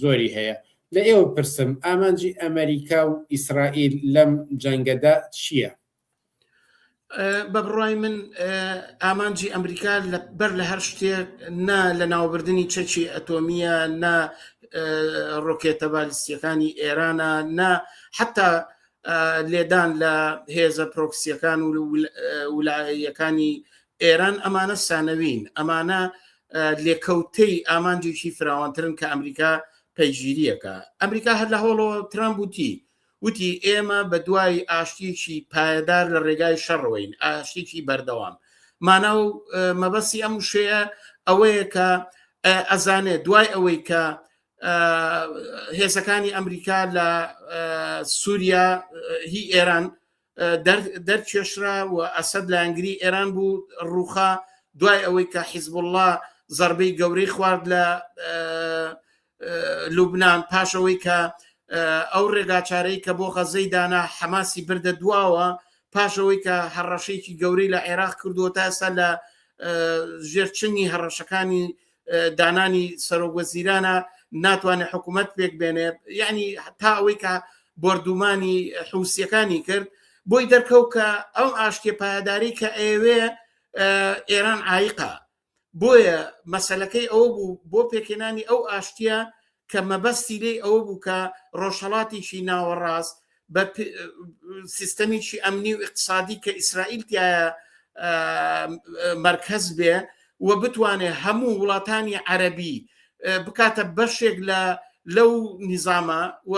زۆری هەیە لە ئێوە پرسم ئامانجی ئەمریکا و ئیسرائیل لەم جەنگەدا چییە؟ بە بڕای من ئامانجی ئەمریکا بەر لە هەر شتێک نا لە ناوبردنی چەکی ئەتۆمیە نا ڕۆکێتە بالیستیەکانی ئێرانە نا حتا لێدان لە هێزە پرۆکسیەکان و ولایەکانی ئێران ئەمانە سانەوین ئەمانە لێکەوتەی ئامانجێکی فراوانترن کە ئەمریکا پەیگیریەکە ئەمریکا هەر لە هەوڵەوە ترامپ وتی وتی ئێمە بە دوای ئاشتیکی پایدار لە ڕێگای شەڕەوەین ئاشتیکی بەردەوام مانا و مەبەستی ئەم شەیە ئەوەیە کە ئەزانێ دوای ئەوەی کە هێزەکانی ئەمریکا لە سووریا هی ئێران دەرکێشرا و ئەسەد لایەنگری ئێران بوو ڕووخا دوای ئەوەی کە حیزبله زربەی گەورەی خوارد لە لوبناان پاشەوەی کە ئەو ڕێگاچارەی کە بۆ غەزەی دانا حەماسی بردە دواوە پاشەوەی کە هەڕەشەیەکی گەورەی لە عێراق کردووە تا ئێستا لە ژێرچنی هەڕەشەکانی دانانی سەرۆک وەزیرانە ناتوانێت حکوومەت پێک بێنێت یعنی تا ئەوەی کە بردومانی حوسەکانی کرد بۆی دەرکەو کە ئەو ئاشتێ پایداری کە ئەوێ ئێران ئایقا بۆیە مەسلەکەی ئەو بوو بۆ پێکێنانی ئەو ئاشتە کە مەبەستی لێی ئەوە بوو کە ڕۆژهەڵاتیی ناوەڕاست بە سیستەمیی ئەمنی و ئیقتصادی کە ئیسرائیل تایە مەرکەز بێ و بتوانێ هەموو وڵاتانی عەرەبی بکاتە بەشێک لە لەو نیزامە و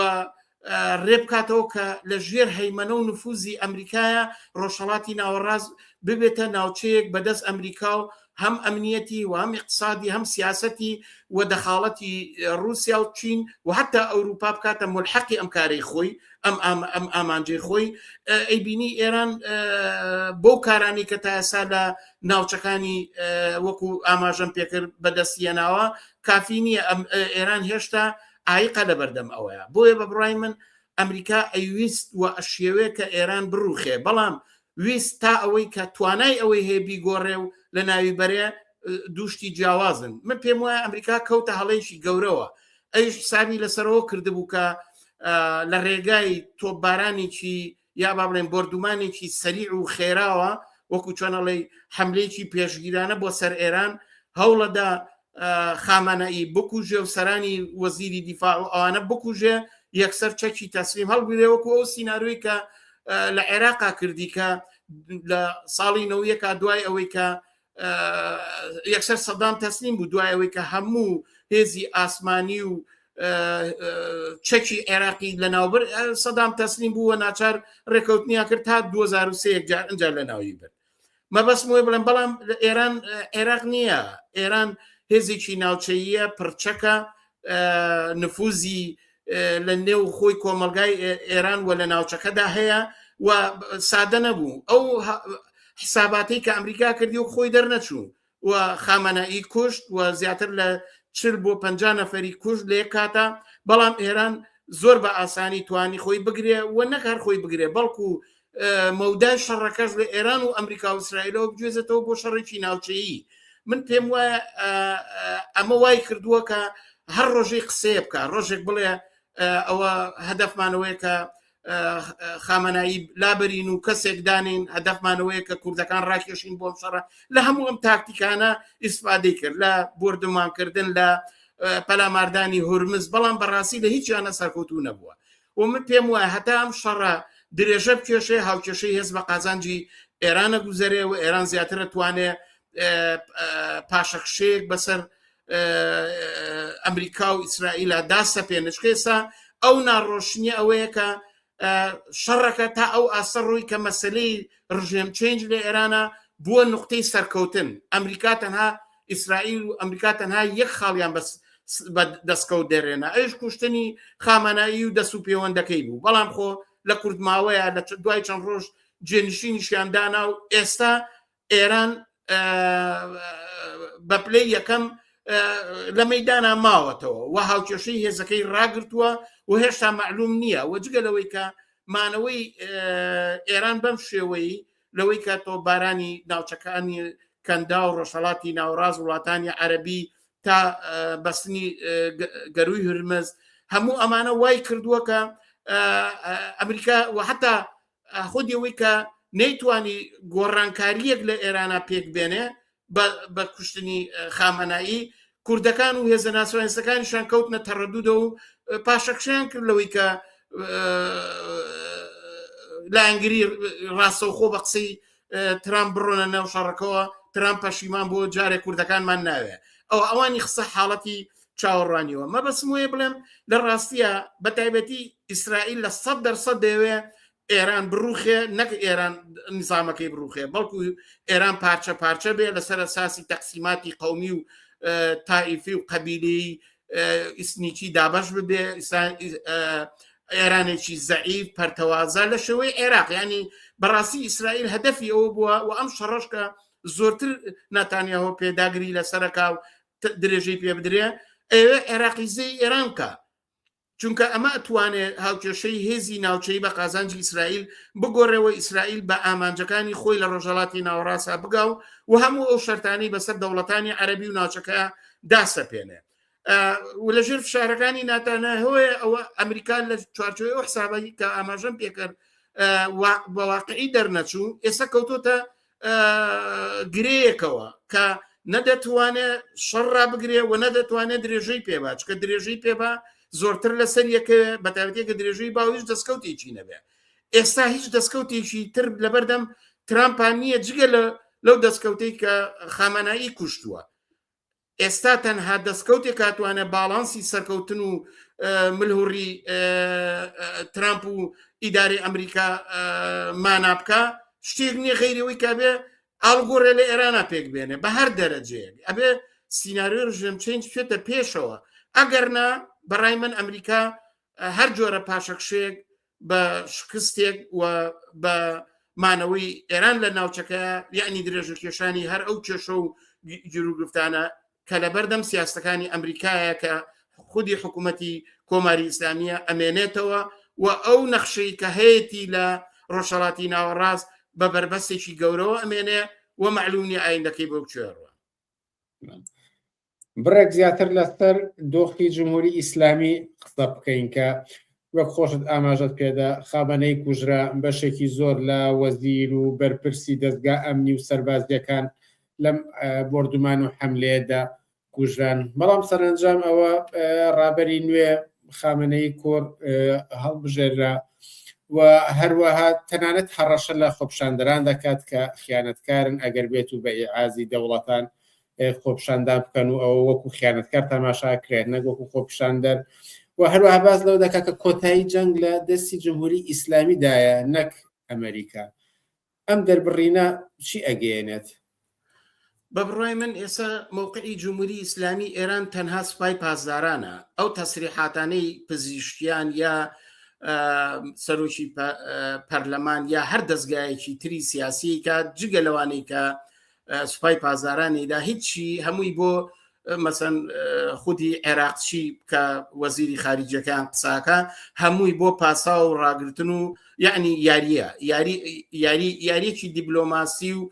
ڕێ بکاتەوە کە لە ژێر هەیمەنە و نفوزی ئەمریکایە ڕۆژهڵاتی ناوەڕاز ببێتە ناوچەیەک بەدەست ئەمریکا و هەم ئەمنیەتی و هەم اقتصادی هەم سیاستی و دەخاڵەتی رووسیا و چین و حتا ئەوروپا بکاتە ملحقی ئەم کارەی خۆی ئەم ئەم ئامانجی خۆی ئەیبینی ئێران بۆ کارانی کە تاسا لە ناوچەکانی وەکو ئاماژەم پێکرد بەدەستیەناوە کافی نییە ئەم ئێران هێشتا ئایقە لە بەردەم ئەوەیە بۆیە بە بڕای من ئەمریکا ئەیویست و ئەشیەوێ کە ئێران بڕوخێ بەڵام ویست تا ئەوەی کە توانای ئەوەی هەیە بیگۆڕێ و لە ناوی بەرێ دووشتی جیاوازن من پێم وایە ئەمریکا کەوتە هەڵەیشی گەورەوە ئەوش حسابی لەسەرەوە کردبوو کە لە ڕێگای تۆپبارانێکی یا با بڵێن بۆردومانێکی سەریع و خێراوە وەکو چۆنەڵی حملەیەکی پێشگیرانە بۆ سەر ئێران هەوڵەدا خامانەئی بکوژێ و سەرانی وەزیری دیفاع و ئەوانە بکوژێ یەکسەر چەکی تەسلیم هەڵگرێ وەکو ئەو سینناروی کە لە عێراقا کردی کە لە ساڵی نەوەکە دوای ئەوەی کە یەکسەر سەدام تەسلیم بوو دوایەوەی کە هەموو هێزی ئاسمانی و چەکی عێراقی لە ناوبر سەدام تەسلیم بوو و ناچار ڕێکەوتنیا کرد تا 2023 جار ئەجار لە ناوی بن مەبەست وێ بڵێن بەڵام ئێران عێراق نییە ئێران هێزێکی ناوچەیە پرچەکە نفوزی لە نێو خۆی کۆمەلگای ئێران و لە ناوچەکەدا هەیە و سادە نەبوو ئەو حساباتی کە ئەمریکا کردی و خۆی دەرنەچوو و خامەنەئی کوشت و زیاتر لە چل بۆ پ نەفری کوشت لێ کاتە بەڵام ئێران زۆر بە ئاسانی توانی خۆی بگرێ و نەکار خۆی بگرێ بەڵکو مەودای شەڕەکەش لە ئێران و ئەمریکا و ئیسرائیلەوە بگوێزێتەوە بۆ شەڕێکی ناوچەیی من پێم وایە ئەمە وای کردووە کە هەر ڕۆژەی قسەیە بکە ڕۆژێک بڵێ ئەوە هەدەفمانەوەی کە خامەنایی لابرین و کەسێک دانین هەدەفمانەوەیە کە کوردەکان ڕاکێشین بۆم شەڕە لە هەموو ئەم تاکتیکانە ئیسفادەی کرد لە بردومانکردن لە پەلاماردانی هورمز بەڵام بەڕاستی لە هیچیانە سەرکەوتو نەبووە و من پێم وایە هەتا ئەم شەڕە درێژە بکێشێ هاوکێشەی هێز بە قازانجی ئێرانە گوزەرێ و ئێران زیاترە توانێ پاشەخشەیەک بەسەر ئەمریکا و ئیسرائیلا داسە پێنشکێسا ئەو ناڕۆشنی ئەوەیە کە شەڕەکە تا ئەو ئاسە ڕووی کە مەسلەی ڕژێم چنج لە ئێرانە بووە نقطەی سەرکەوتن ئەمریکا تەنها ئیسرائیل و ئەمریکا تەنها یەک خاڵیان بەس بە دەستکەوت دەرێنە ئەوش کوشتنی خامەنایی و دەست و پێوەندەکەی بوو بەڵام خۆ لە کوردماوەیە لە دوای چەند ڕۆژ جێنشینیشیان دانا و ئێستا ئێران بە پلەی یەکەم لە مەدانا ماوەتەوە و هاوکێشەی هێزەکەی ڕاگرتووە و هێشتا معلوم نییە و جگە لەوەی کە مانەوەی ئێران بەم شێوەی لەوەی کە تۆپبارانی ناوچەکانی کەندا و ڕۆژهەڵاتی ناوەڕاست وڵاتانی عەربی تا بەستنی گەروی هرمز هەموو ئەمانە وای کردووە کە ئەمریکا و حتا خودیەوەی کە نەیتوانی گۆڕانکاریەک لە ئێرانە پێک بێنێ بە کوشتنی خامەنایی کوردەکان و هێزە ناسۆنستەکانیشان کەوتنە تەڕەدوودە و پاشەکشیان کرد لەوەی کە لایەنگری ڕاستەوخۆ بە قسەی ترام بڕۆنە ناو شەڕەکەەوە ترام پەشیمان بۆ جارێک کوردەکانمان ناوێ ئەو ئەوانی خسە حاڵەتی چاوەڕوانیەوە مەبەسم وەیە بڵێم لە ڕاستیە بە تایبەتی ئیسرائیل لە سەد دەرسەد دەوێ ئێران بڕوخێ نەک ئێران نزامەکەی بڕوخێ بەڵکو ئێران پارچە پارچە بێ لەسەر ساسی تەقسیماتی قومی و تائیفی و قەبیلی ئیسنیکی دابش ببێ ئێرانێکی زەعیف پەرتەوازە لە شێوەی عێراق ینی بەڕاستی ئیسرائیل هەدەفی ئەوە بووە و ئەم شەڕشکە زۆرتر ناتانیاەوە پێداگری لە سەرکاو درێژەی پێ بدرێ ئێوە عێراقیزەی ئێرانکە چونکە ئەمە ئەتوانێ هاوکێشەی هێزی ناوچەی بە قازانجی ئیسرائیل بگۆڕێەوە ئیسرائیل بە ئامانجەکانی خۆی لە ڕۆژەڵاتی ناوەڕاسا بگا و و هەموو ئەو شەرتانی بەسەر دەوڵەتانی عەربی و ناوچەکە داسەپێنێ و لە ژێر فشارەکانی ناتانە هۆیە ئەوە ئەمریکا لە چوارچۆی ئەو حسابی کە ئاماژەم پێکرد بەواقعی دەرنەچوو ئێستا کەوتۆتە گرەیەکەوە کە نەدەتوانێ شەڕ رابگرێ و نەدەتوانێت درێژەی پێبا چکە درێژەی پێبا زۆرتر لەسەر یەکە بەتاوتێکە درێژەی باویش دەستکەوتێکی نەبێ ئێستا هیچ دەستکەوتێکی تر لەبەردەم ترامپان نییە جگە لە لەو دەستکەوتەی کە خامەنایی کوشتووە ئێستا تەنها دەستکەوتێک هاتوانە باڵانسی سەرکەوتن و ملهوڕی ترامپ و ئیداری ئەمریکا مانا بکە شتێک نییە غیرەوەی کابێ ئاڵگۆڕێ لە ئێرانە پێک بێنێ بە هەر دەرەجەیەک ئەبێ سینناریۆ ژێم چنج بچێتە پێشەوە ئەگەرنا بەڕای من ئەمریکا هەر جۆرە پاشەکشێک بە شکستێک و بە مانەوەی ئێران لە ناوچەکە یعنی درێژە کێشانی هەر ئەو کێشە و گیروگرفتانە کە لە بەردەم سیاستەکانی ئەمریکایە کە خودی حکوومەتی کۆماری ئیسلامیە ئەمێنێتەوە و ئەو نەخشەی کە هەیەی لە ڕۆژهڵاتی ناوەڕاست بە بەربەستێکی گەورەوە ئەمێنێ و معلومی ئایندەکەی بەو کوێڕوە بڕێک زیاتر لەسەر دۆخی جمهوری ئیسلامی قسە بکەین کە وەک خۆشت ئاماژەت پێدا خابەنەی کوژرا بەشێکی زۆر لە وەزیر و بەرپرسی دەستگا ئەمنی و سەربازیەکان لەم بردومان و حملەیەدا کوژران بەڵام سەرنجام ئەوە ڕابەری نوێ خامنەی کۆر هەڵبژێررا و هەروەها تەنانەت هەڕەشە لە خۆپشاندران دەکات کە خیانەتکارن ئەگەر بێت و بە ئازی دەوڵەتان خۆپشاندان بکەن و ئەوە وەکو خیانەتکار تەماشا کرێت نەک وەکو خۆپشاندەر و هەروەها باز لەوە دەکات کە کۆتایی جەنگ لە دەستی جمهوری ئیسلامیدایە نەک ئەمریکا ئەم دەربڕینە چی ئەگەێنێت بە بڕای من ئێستا مووقعی جمهوری ئیسلامی ئێران تەنها سوپای پاسدارانە ئەو تەسریحاتانەی پزیشکیان یا سەرۆکی پەرلەمان یا هەر دەستگایەکی تری سیاسی کە جگە لەوانەی کە سوپای پازارانیدا هیچی هەمووی بۆ مەسەن خودی عێراقچی کە وەزیری خارجیەکان قساکە هەمووی بۆ پاسا و ڕاگرتن و یعنی یاریە یاریەکی دیبلۆماسی و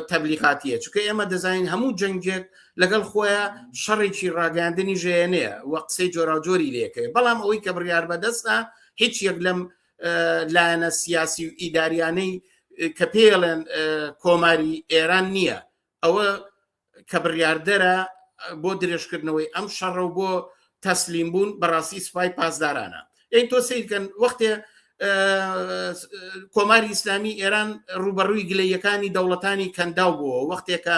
تەبلیغاتیە چکە ئێمە دەزانین هەموو جەنگێک لەگەڵ خۆیان شەڕێکی ڕاگەاندنی ژێنەیە و قسەی جۆراجۆری لەکەێ بەڵام ئەوەی کە بڕیار بەدەستە هیچ یەک لەم لایەنە سیاسی و ئیداریانەی کە پێڵێن کۆماری ئێران نییە ئەوە کە بڕاردەرە بۆ درێژکردنەوەی ئەم شەڕە و بۆ تەسلیم بوون بەڕاستی سوپای پاسدارانە ئەین تۆ سیرکەن وەختێ کۆماری ئیسلامی ئێران ڕوبەڕووی گلەیەکانی دەوڵەتانی کەنداو بووە وەختێکە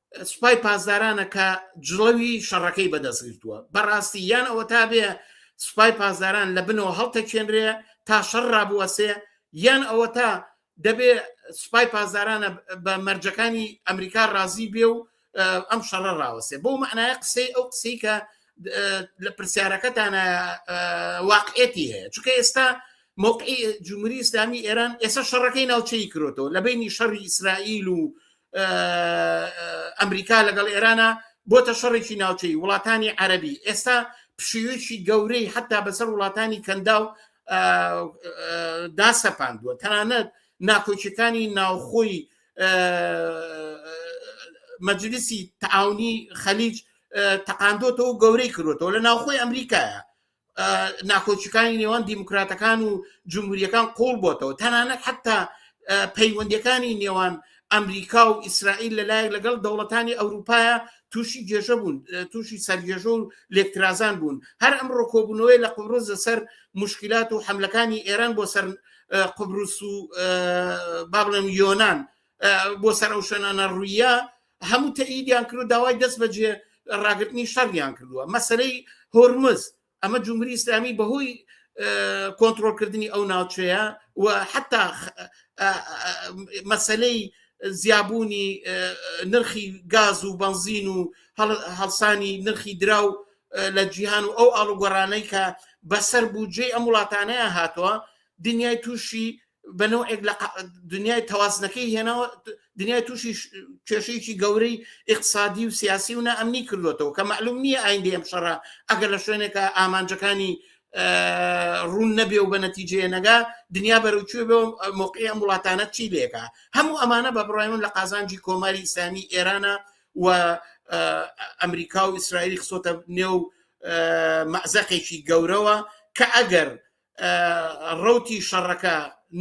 سوپای پاسدارانە کە جڵەوی شەڕەکەی بەدەستگرتووە بەڕاستی یان ئەوە تا بێ سوپای پاسداران لە بنەوە هەڵتەچێنرێ تا شەڕ ڕابوەسێ یان ئەوە تا دەبێ سوپای پاسدارانە بە مەرجەکانی ئەمریکا ڕازی بێ و ئەم شەڕە ڕاوەسێ بۆ معناە قسەی ئەو قسەی کە لە پرسیارەکەتانە واقعێتی هەیە چکە ئێستا موقعی جمهوری ئسلامی ئێران ئێستا شەڕەکەی ناوچەی کرۆتەوە لە بینی شەڕی ئیسرائیل و ئەمریکا لەگەڵ ئێرانە بۆتە شەڕێکی ناوچەی وڵاتانی عەربی ئێستا پشیوێکی گەورەی حتا بەسەر وڵاتانی کەندا و داسەپاندووە تەنانەت ناکۆچەکانی ناوخۆی مەجلیسی تعاونی خەلیج تەقاندۆتەوە گەورەی کردوەوە لە ناوخۆی ئەمریکایە ناکۆچەکانی نێوان دیموکراتەکان و جمهوریەکان قۆڵ بۆتەوە تەنانەت حتا پەیوەندەکانی نێوان ئەمریکا و ئیسرائیل لەلایەک لەگەڵ دەوڵەتانی ئەوروپایە تووشی گێژە بوون تووشی سەرگێژە و لێکترازان بوون هەر ئەم ڕۆکۆبوونەوەی لە قوڕز لەسەر مشکلات و حملەکانی ئێران بۆ سەر قبرس و با بڵێم یۆناان بۆ سەر ئەو شوێنانە ڕوویە هەموو تەئیدیان کرد و داوای دەست بەجێ ڕاگرتنی شەڕیان کردووە مەسەرەی هۆرمز ئەمە جمهوری ئسلامی بەهۆی کۆنتترۆلکردنی ئەو ناوچەیە و حتا مەسلەی زیابوونی نرخی گاز و بنزین و هەڵسانی نرخی دراو لە جیهان و ئەو ئاڵوگۆڕانەی کە بەسەر بودجێ ئەم وڵاتانەیە هاتووە دنیای تووشی بەنەوەێک لە دنیای تەوازنەکەی هێناوە دنیای تووشی کێشەیەکی گەورەی اقتصادی و سیاسی و نائەمنی کردوێتەوە کە معلوم نییە ئایندی ئەم شەڕە ئەگەر لە شوێنێکە ئامانجەکانی ڕوون نەبێ و بە نەتیجێ نەگا دنیا بەرەوچێ بێ مۆقعی ئەم وڵاتانە چی لێکە هەموو ئەمانە بە بڕای من لە قازانجی کۆماری ئیسلامی ئێرانە و ئەمریکا و ئیسرائیلی خسۆتە نێو مەزەقێکی گەورەوە کە ئەگەر ڕوتی شەڕەکە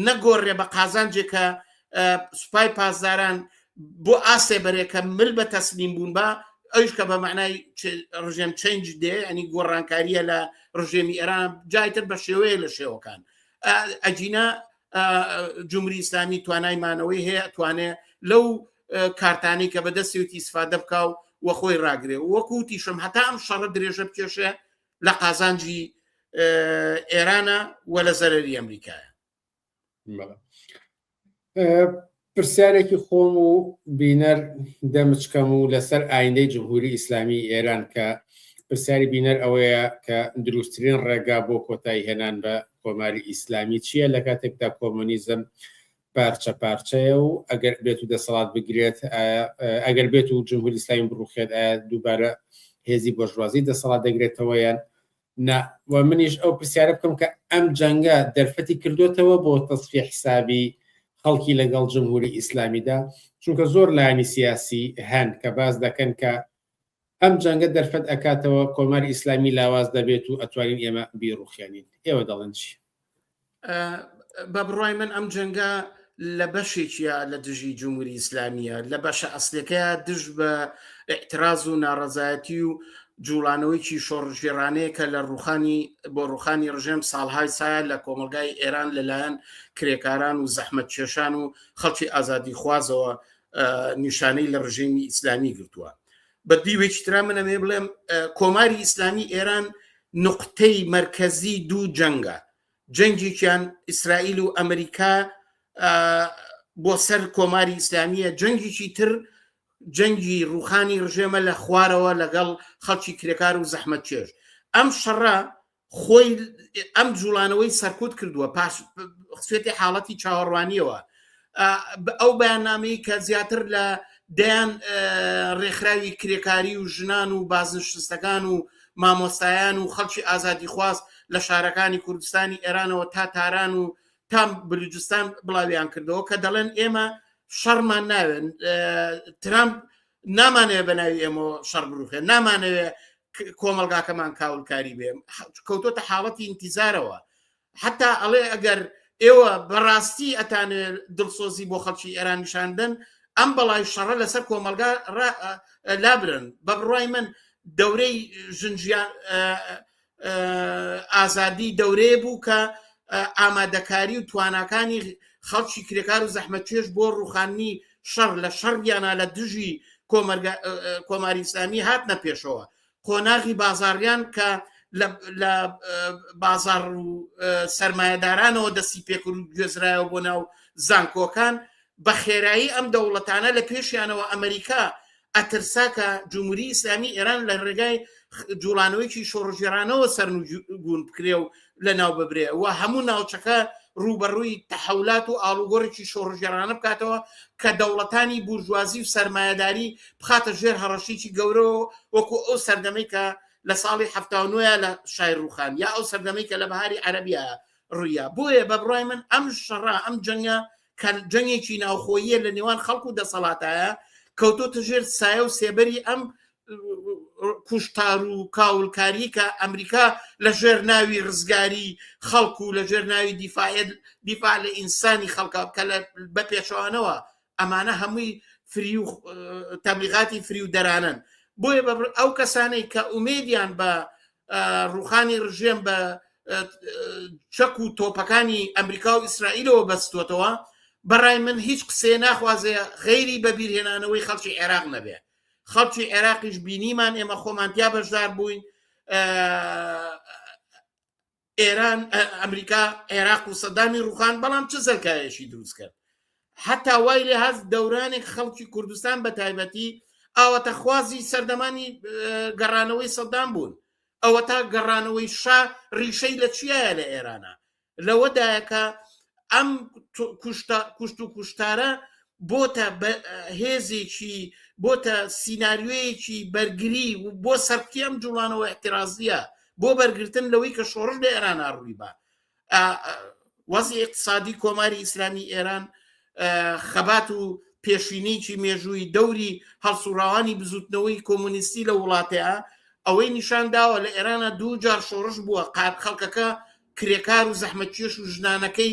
نەگۆڕێ بە قازانجێکە سوپای پاسداران بۆ ئاسێ بەرێکە مل بە تەسلیم بوون بە ئەوش کە بە معنای ڕژێم چنج دێ ئەنی گۆڕانکاریە لە ڕژێمی ئێران جایتر بە شێوەیە لە شێوەکان ئەجینا جمهوری ئیسلامی توانای مانەوەی هەیە توانێ لەو کارتانی کە بەدەستێتی سفادە بکە و وە خۆی ڕاگرێ وەکوتیشم هەتا ئەم شەڕە درێژە بکێشێ لە قازانجی ئێرانە و لە زەرری ئەمریکایە پرسیارێکی خۆم و بینەر دەمچکەم و لەسەر ئایندەی جمهوری ئیسلامی ئێران کە پرسیاری بینەر ئەوەیە کە دروستترین ڕێگا بۆ کۆتایی هێنان بە کۆماری ئیسلامی چییە لە کاتێکدا کۆمۆنیزم پارچە پارچەیە و ئەگەر بێت و دەسەڵات بگرێت ئەگەر بێت و جمهوری ئیسلامی بڕوخێت دووبارە هێزی بۆژوازی دەسەڵات دەگرێتەوە یان نا و منیش ئەو پرسیارە بکەم کە ئەم جەنگە دەرفەتی کردوێتەوە بۆ تەسفی حسابی خەڵکی لەگەڵ جمهوری ئیسلامیدا چونکە زۆر لایانی سیاسی هەن کە باس دەکەن کە ئەم جەنگە دەرفەت ئەکاتەوە کۆماری ئیسلامی لاواز دەبێت و ئەتوانین ئێمە بیڕوخێنین ئێوە دەڵێن چی؟ بە بڕای من ئەم جەنگە لە بەشێکیە لە دژی جمهوری ئیسلامیە لە بەشە ئەسلەکە دژ بە اعتراز و ناڕزایەتی و جوڵانەوەیکی شۆڕژێرانەیە کە لە ڕوخانی بۆ ڕوخانی ڕژێم ساڵهای سایە لە کۆمەلگای ئێران لەلایەن کرێکاران و زەحمەت کێشان و خەڵکی ئازادی خوازەوە نیشانەی لە ڕژێمی ئیسلامی گرتووە بە دیوێکی تررا منەمێ بڵێم کۆماری ئیسلامی ئێران نقطەی مرکزی دوو جەنگە جەنگێکیان ئیسرائیل و ئەمریکا بۆ سەر کۆماری ئیسلامیە جەنگێکی تر جەنگی ڕوخانی ڕژێمە لە خوارەوە لەگەڵ خەڵکی کرێکار و زەحمەت چێژ ئەم شەڕە خۆی ئەم جوڵانەوەی سەرکوت کردووە پاش سوێتی حاڵەتی چاوەڕوانیەوە ئەو بەیاننامەی کە زیاتر لە دەیان ڕێکخراوی کرێکاری و ژنان و بازنشتستەکان و مامۆستایان و خەڵکی ئازادی خواست لە شارەکانی کوردستانی ئێرانەوە تا تاران و تام بلوجستان بڵاویان کردەوە کە دەڵێن ئێمە شەڕمان ناوێن ترامپ نامانەوێ بە ناوی ئێمە شەڕ بروخێ نامانەوێ کۆمەلگاکەمان کاولکاری بێ کەوتۆتە حاڵەتی ئینتیزارەوە حتا ئەڵێ ئەگەر ئێوە بەڕاستی ئەتانێ دڵسۆزی بۆ خەڵکی ئێران نیشاندن ئەم بەڵای شەڕە لەسەر کۆمەلگا لابرن بە بڕای من دەورەی ژنجیان ئازادی دەورەیە بوو کە ئامادەکاری و تواناکانی خەڵکی کرێکار و زەحمەتێش بۆ ڕوخاننی شەڕ لە شەڕیانە لە دژی کۆماری ئسلامی هات نەپێشەوە قۆناغی بازاڕیان کە لە بازار و سرمایهدارانەوە دەستی پێکرد و گوێزرایەوە بۆ ناو زانکۆکان بە خێرایی ئەم دەوڵەتانە لە پێشیانەوە ئەمریکا ئەترسا کە جمهوری ئیسلامی ئێران لە ڕێگای جوڵانەوەیکی شۆڕژێرانەوە سەرنجون بکرێ و لە ناو ببرێ و هەموو ناوچەکە ڕوبەڕووی تەحولات و ئاڵوگۆڕێکی شۆڕژێرانە بکاتەوە کە دەوڵەتانی بورژوازی و سەرمایهداری بخاتە ژێر هەڕەشیی گەورەوە وەکو ئەو سەردەمەی کە لە ساڵی هەفتاونوە لە شای ڕوخان یا ئەو سەردەمەی کە لە بەهاری عەربیە ڕوویە بۆیە بە بڕای من ئەم شەڕە ئەم جەنگە کە جەنگێکی ناوخۆییە لە نێوان خەڵک و دەسەڵاتایە کەوتۆتە ژێر سایە و سێبەری ئەم کوشتار و کاولکاری کە ئەمریکا لە ژێر ناوی ڕزگاری خەڵک و لە ژێر ناوی دیفاعل دیفاع لە ئینسانی خەڵکە کە لە بە پێچوانەوە ئەمانە هەمووی فری و تەبلیغاتی فری و دەرانن بۆیە ئەو کەسانەی کە ئومێدیان بە ڕوخانی ڕژێم بە چەک و تۆپەکانی ئەمریکا و ئیسرائیلەوە بەستوەتەوە بەڕای من هیچ قسێ ناخوازێ غەیری بەبیرهێنانەوەی خەڵکی عێراق نەبێ خەڵکی عێراقیش بینیمان ئێمە خۆمانتیا بەشدار بووین ئێران ئەمریکا عێراق و سەدامی ڕوخان بەڵام چ سەرکایەشی دروست کرد حتا وای لێ هەست دەورانی خەڵکی کوردستان بە تایبەتی ئاوەتە خوازی سەردەمانی گەڕانەوەی سەدام بوون ئەوە تا گەڕانەوەی شا ڕیشەی لە چیە لە ئێرانە لەوەدایەکە ئەم کوشت و کوشتارە بۆتە هێزێکی بۆتە سینناریۆیەکی بەرگری بۆ سەرتی ئەم جوڵانەوە احترازیە بۆ بەرگرتن لەوەی کە شۆڕش لە ئێران ئاڕووی بە وەزی اقتصادی کۆماری ئیسلامی ئێران خەبات و پێشینێکی مێژووی دەوری هەڵسوڕاوانی بزوتنەوەی کۆمونیستی لە وڵاتەیە ئەوەی نیشان داوە لە ئێرانە دوو جار شۆڕش بووە قات خەڵکەکە کرێکار و زەحمەتکێش و ژنانەکەی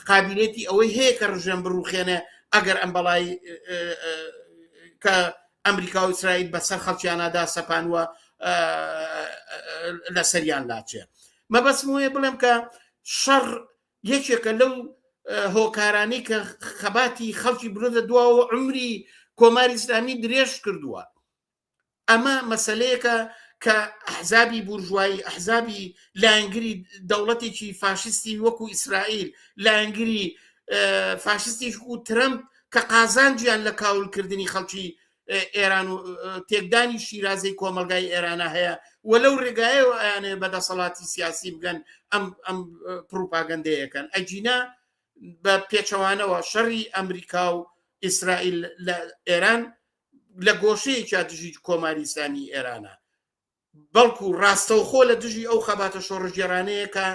قابیلێتی ئەوەی هەیە کە ڕژێم بڕوخێنێ ئەگەر ئەم بەڵای کە ئەمریکا و ئیسرائیل بەسەر خەڵکیانەدا سەپانوە لە سەریان لاچێ مەبەسم وەیە بڵێم کە شەڕ یەکێکە لەو هۆکارانی کە خەباتی خەڵکی برۆدە دواوە عمری کۆماری ئسلامی درێژ کردووە ئەمە مەسلەیەکە کە ئەحزابی بورژوایی ئەحزابی لایەنگری دەوڵەتێکی فاشستی وەکو ئیسرائیل لایەنگری فاشستی و ترەمپ کە قازانجیان لە کاولکردنی خەڵکی ئێران و تێکدانی شیرازەی کۆمەلگای ئێرانە هەیە و لەو ڕێگایەوە ئەیانێ بە دەسەڵاتی سیاسی بگەن ئەم ئەم پروپاگەندەیەکەن ئەجینا بە پێچەوانەوە شەڕی ئەمریکا و ئیسرائیل لە ئێران لە گۆشەیەکیا دژی کۆماری ئیسلامی ئێرانە بەڵکو ڕاستەوخۆ لە دژی ئەو خەباتە شۆڕژگێرانەیەکە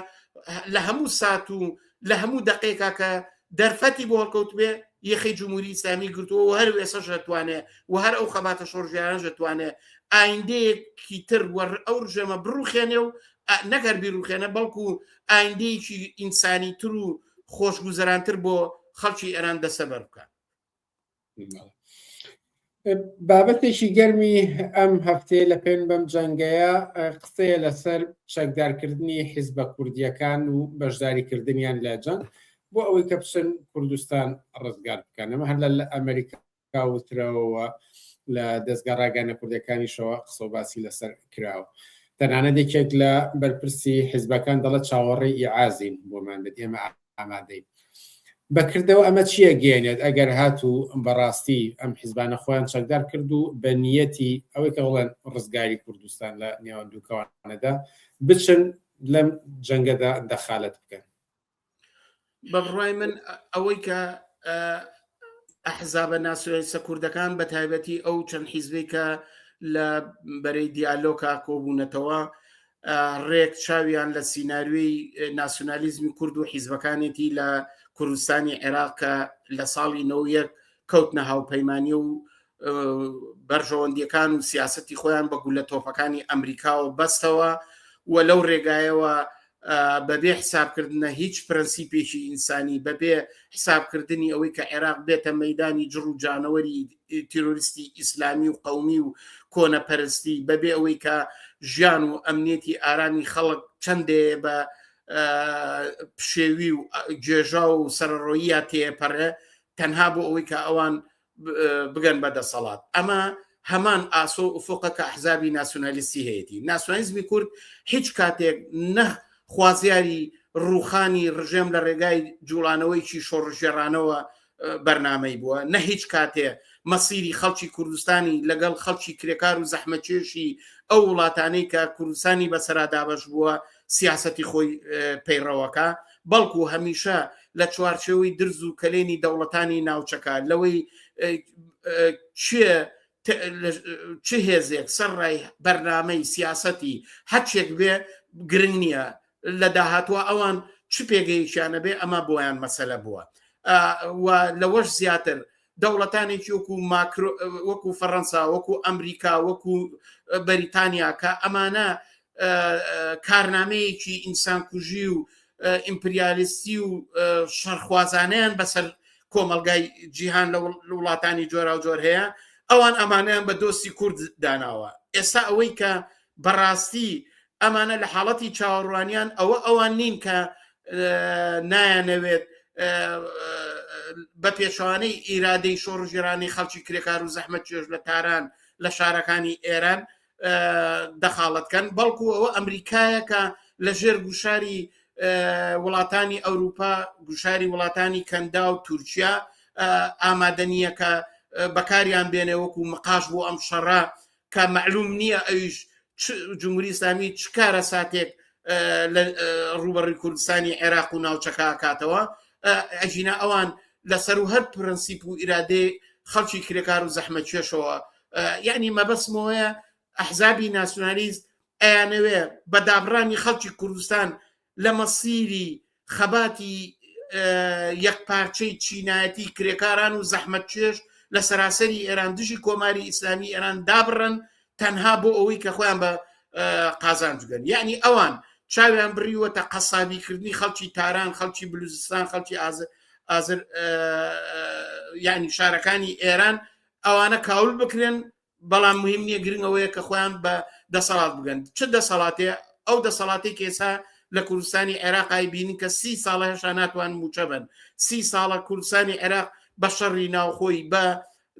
لە هەموو سات و لە هەموو دقێکا کە دەرفەتی بۆ هەڵکەوت بێ یەخی جمهوری ئسلامی گرتووە و هەر وێسە ژەتوانێ و هەر ئەو خەباتە شۆرژیان ژەتوانێ ئایندەیەکی تر وەڕ ئەو ژێمە بڕوخێنێ و نەگەر بیرروخێنە بەڵکو ئایندەیەکی ئینسانی تر و خۆشگوزەرانتر بۆ خەڵکی ئێران دەسەبەر بکە بابەتێکی گەرمی ئەم هەفتەیە لە پێن بەم جەنگەیە قسەیە لەسەر چەکدارکردنی حیزبە کوردیەکان و بەشداریکردنیان لە جەنگ بۆ ئەوەی کە بچن کوردستان ڕزگار بکەن ئەمە هەر لە ئەمریکا وترەوە لە دەستگا ڕاگەانە کوردەکانیشەوە قسە باسی لەسەر کراوە. تەنانە دێکێک لە بەرپرسی حیزبەکان دەڵە چاوەڕێی ئیعازین بۆمان بێت ئێمە ئامادەی بەکردەوە ئەمە چییە گەێنێت ئەگەر هات و بەڕاستی ئەم حیزبانە خۆیان چەکدار کرد و بە نیەتی ئەوەی کە بڵێن ڕزگاری کوردستان لە نێوان دووکەوانەدا بچن لەم جەنگەدا دەخالت بکەن بەڕای من ئەوەی کە ئەحزابە ناسیۆنالیستە کوردەکان بە تایبەتی ئەو چەند حیزبی کە لە بەرەی دیالۆکا کۆبوونەتەوە ڕێک چاویان لە سینناروی ناسیۆنالیزمی کورد و حیزبەکانێتی لە کوردستانی عێراق کە لە ساڵی نەوەک کەوتنە هاوپەیمانانی و بەرژەوەندیەکان و سیاستی خۆیان بە گولە تۆپەکانی ئەمریکاوە بەستەوە و لەو ڕێگایەوە بەبێ حسابکردنە هیچ پرەنسیپێکی ئینسانی بەبێ حسابکردنی ئەوەی کە عێراق بێتە مەدانی جڕ و جانەوەری تیرۆریستی ئیسلامی و قومی و کۆنەپەرستی بەبێ ئەوەی کە ژیان و ئەمنێتی ئارامی خەڵک چەندێ بە پشێوی و گێژا و سەرڕۆیە تێپەڕێ تەنها بۆ ئەوەی کە ئەوان بگەن بە دەسەڵات ئەمە هەمان ئاسۆ و ئوفۆقە کە ئەحزابی ناسیۆنالیستی هەیەی ناسیۆنالیزمی کورد هیچ کاتێک نە خوازیاری ڕوخانی ڕژێم لە ڕێگای جوڵانەوەیکی شۆڕژێڕانەوە بەرنمەی بووە نە هیچ کاتێ مەسیری خەڵکی کوردستانی لەگەڵ خەڵکی کرێکار و زەحمەچێشی ئەو وڵاتانەی کە کوردستانی بەسەرا دابش بووە سیاسەتی خۆی پەیڕەوەکە بەڵکو هەمیشە لە چوارچەوەی درز و کەلێنی دەوڵەتانی ناوچەکە لەوەی چ هێزێک سەر ڕای بەرنمەی سیاسەتی هەچێک بێ گرنگ نییە لە داهاتوە ئەوان چ پێگەیشیانە بێ ئەمە بۆیان مەسەلە بووە لەوەش زیاتر دەوڵەتانێکی وەکو ماکرۆ وەکو فەڕەنسا وەکو ئەمریکا وەکو بەریتانیا کە ئەمانە کارنامەیەکی ئینسان کوژی و ئیمپریالیستی و شەرخوازانیان بەسەر کۆمەلگای جیهان لە وڵاتانی جۆرا و جۆر هەیە ئەوان ئەمانیان بە دۆستی کورد داناوە ئێستا ئەوەی کە بەڕاستی ئەمانە لە حاڵەتی چاوەڕوانیان ئەوە ئەوان نین کە نایانەوێت بە پێچوانەی ئیرادەی شۆڕژێرانی خەڵکی کرێکار و زەحمە چێژ لە تاران لە شارەکانی ئێران دەخاڵەتکەن بەڵکو ئەوە ئەمریکایەکە لە ژێر گوشاری وڵاتانی ئەوروپا گوشاری وڵاتانی کەندا و تورکیا ئامادەنیەکە بەکاریان بێنێ وەکو مقاش بۆ ئەم شەڕە کە مەعلوم نییە ئەویش جمهوری ئسلامی چ کارە ساتێک لە ڕوبەڕی کوردستانی عێراق و ناوچەکە کاتەوە ئەژینا ئەوان لەسەر و هەر پرەنسیپ و ئیرادێ خەڵکی کرێکار و زەحمە کێشەوە یعنی مەبەسمەوەیە ئەحزابی ناسیۆنالیست ئەیانەوێ بە دابڕانی خەڵکی کوردستان لە مەسیری خەباتی یەکپارچەی چینایەتی کرێکاران و زەحمەتکێش لە سەراسەری ئێران دژی کۆماری ئیسلامی ئێران دابڕن تەنها بۆ ئەوەی کە خۆیان بە قازانجگەن یعنی ئەوان چاویان بڕیوەتە قەسابیکردنی خەڵکی تاران خەڵکی بلوزستان خەڵکی ئازر یعنی شارەکانی ئێران ئەوانە کاول بکرێن بەڵام مهم نییە گرنگ ئەوەیە کە خۆیان بە دەسەڵات بگەن چ دەسەڵاتێ ئەو دەسەڵاتی کێسا لە کوردستانی عێراقای بینین کە سی ساڵە هێشا ناتوان موچە بن سی ساڵە کوردستانی عێراق بە شەڕی ناوخۆی بە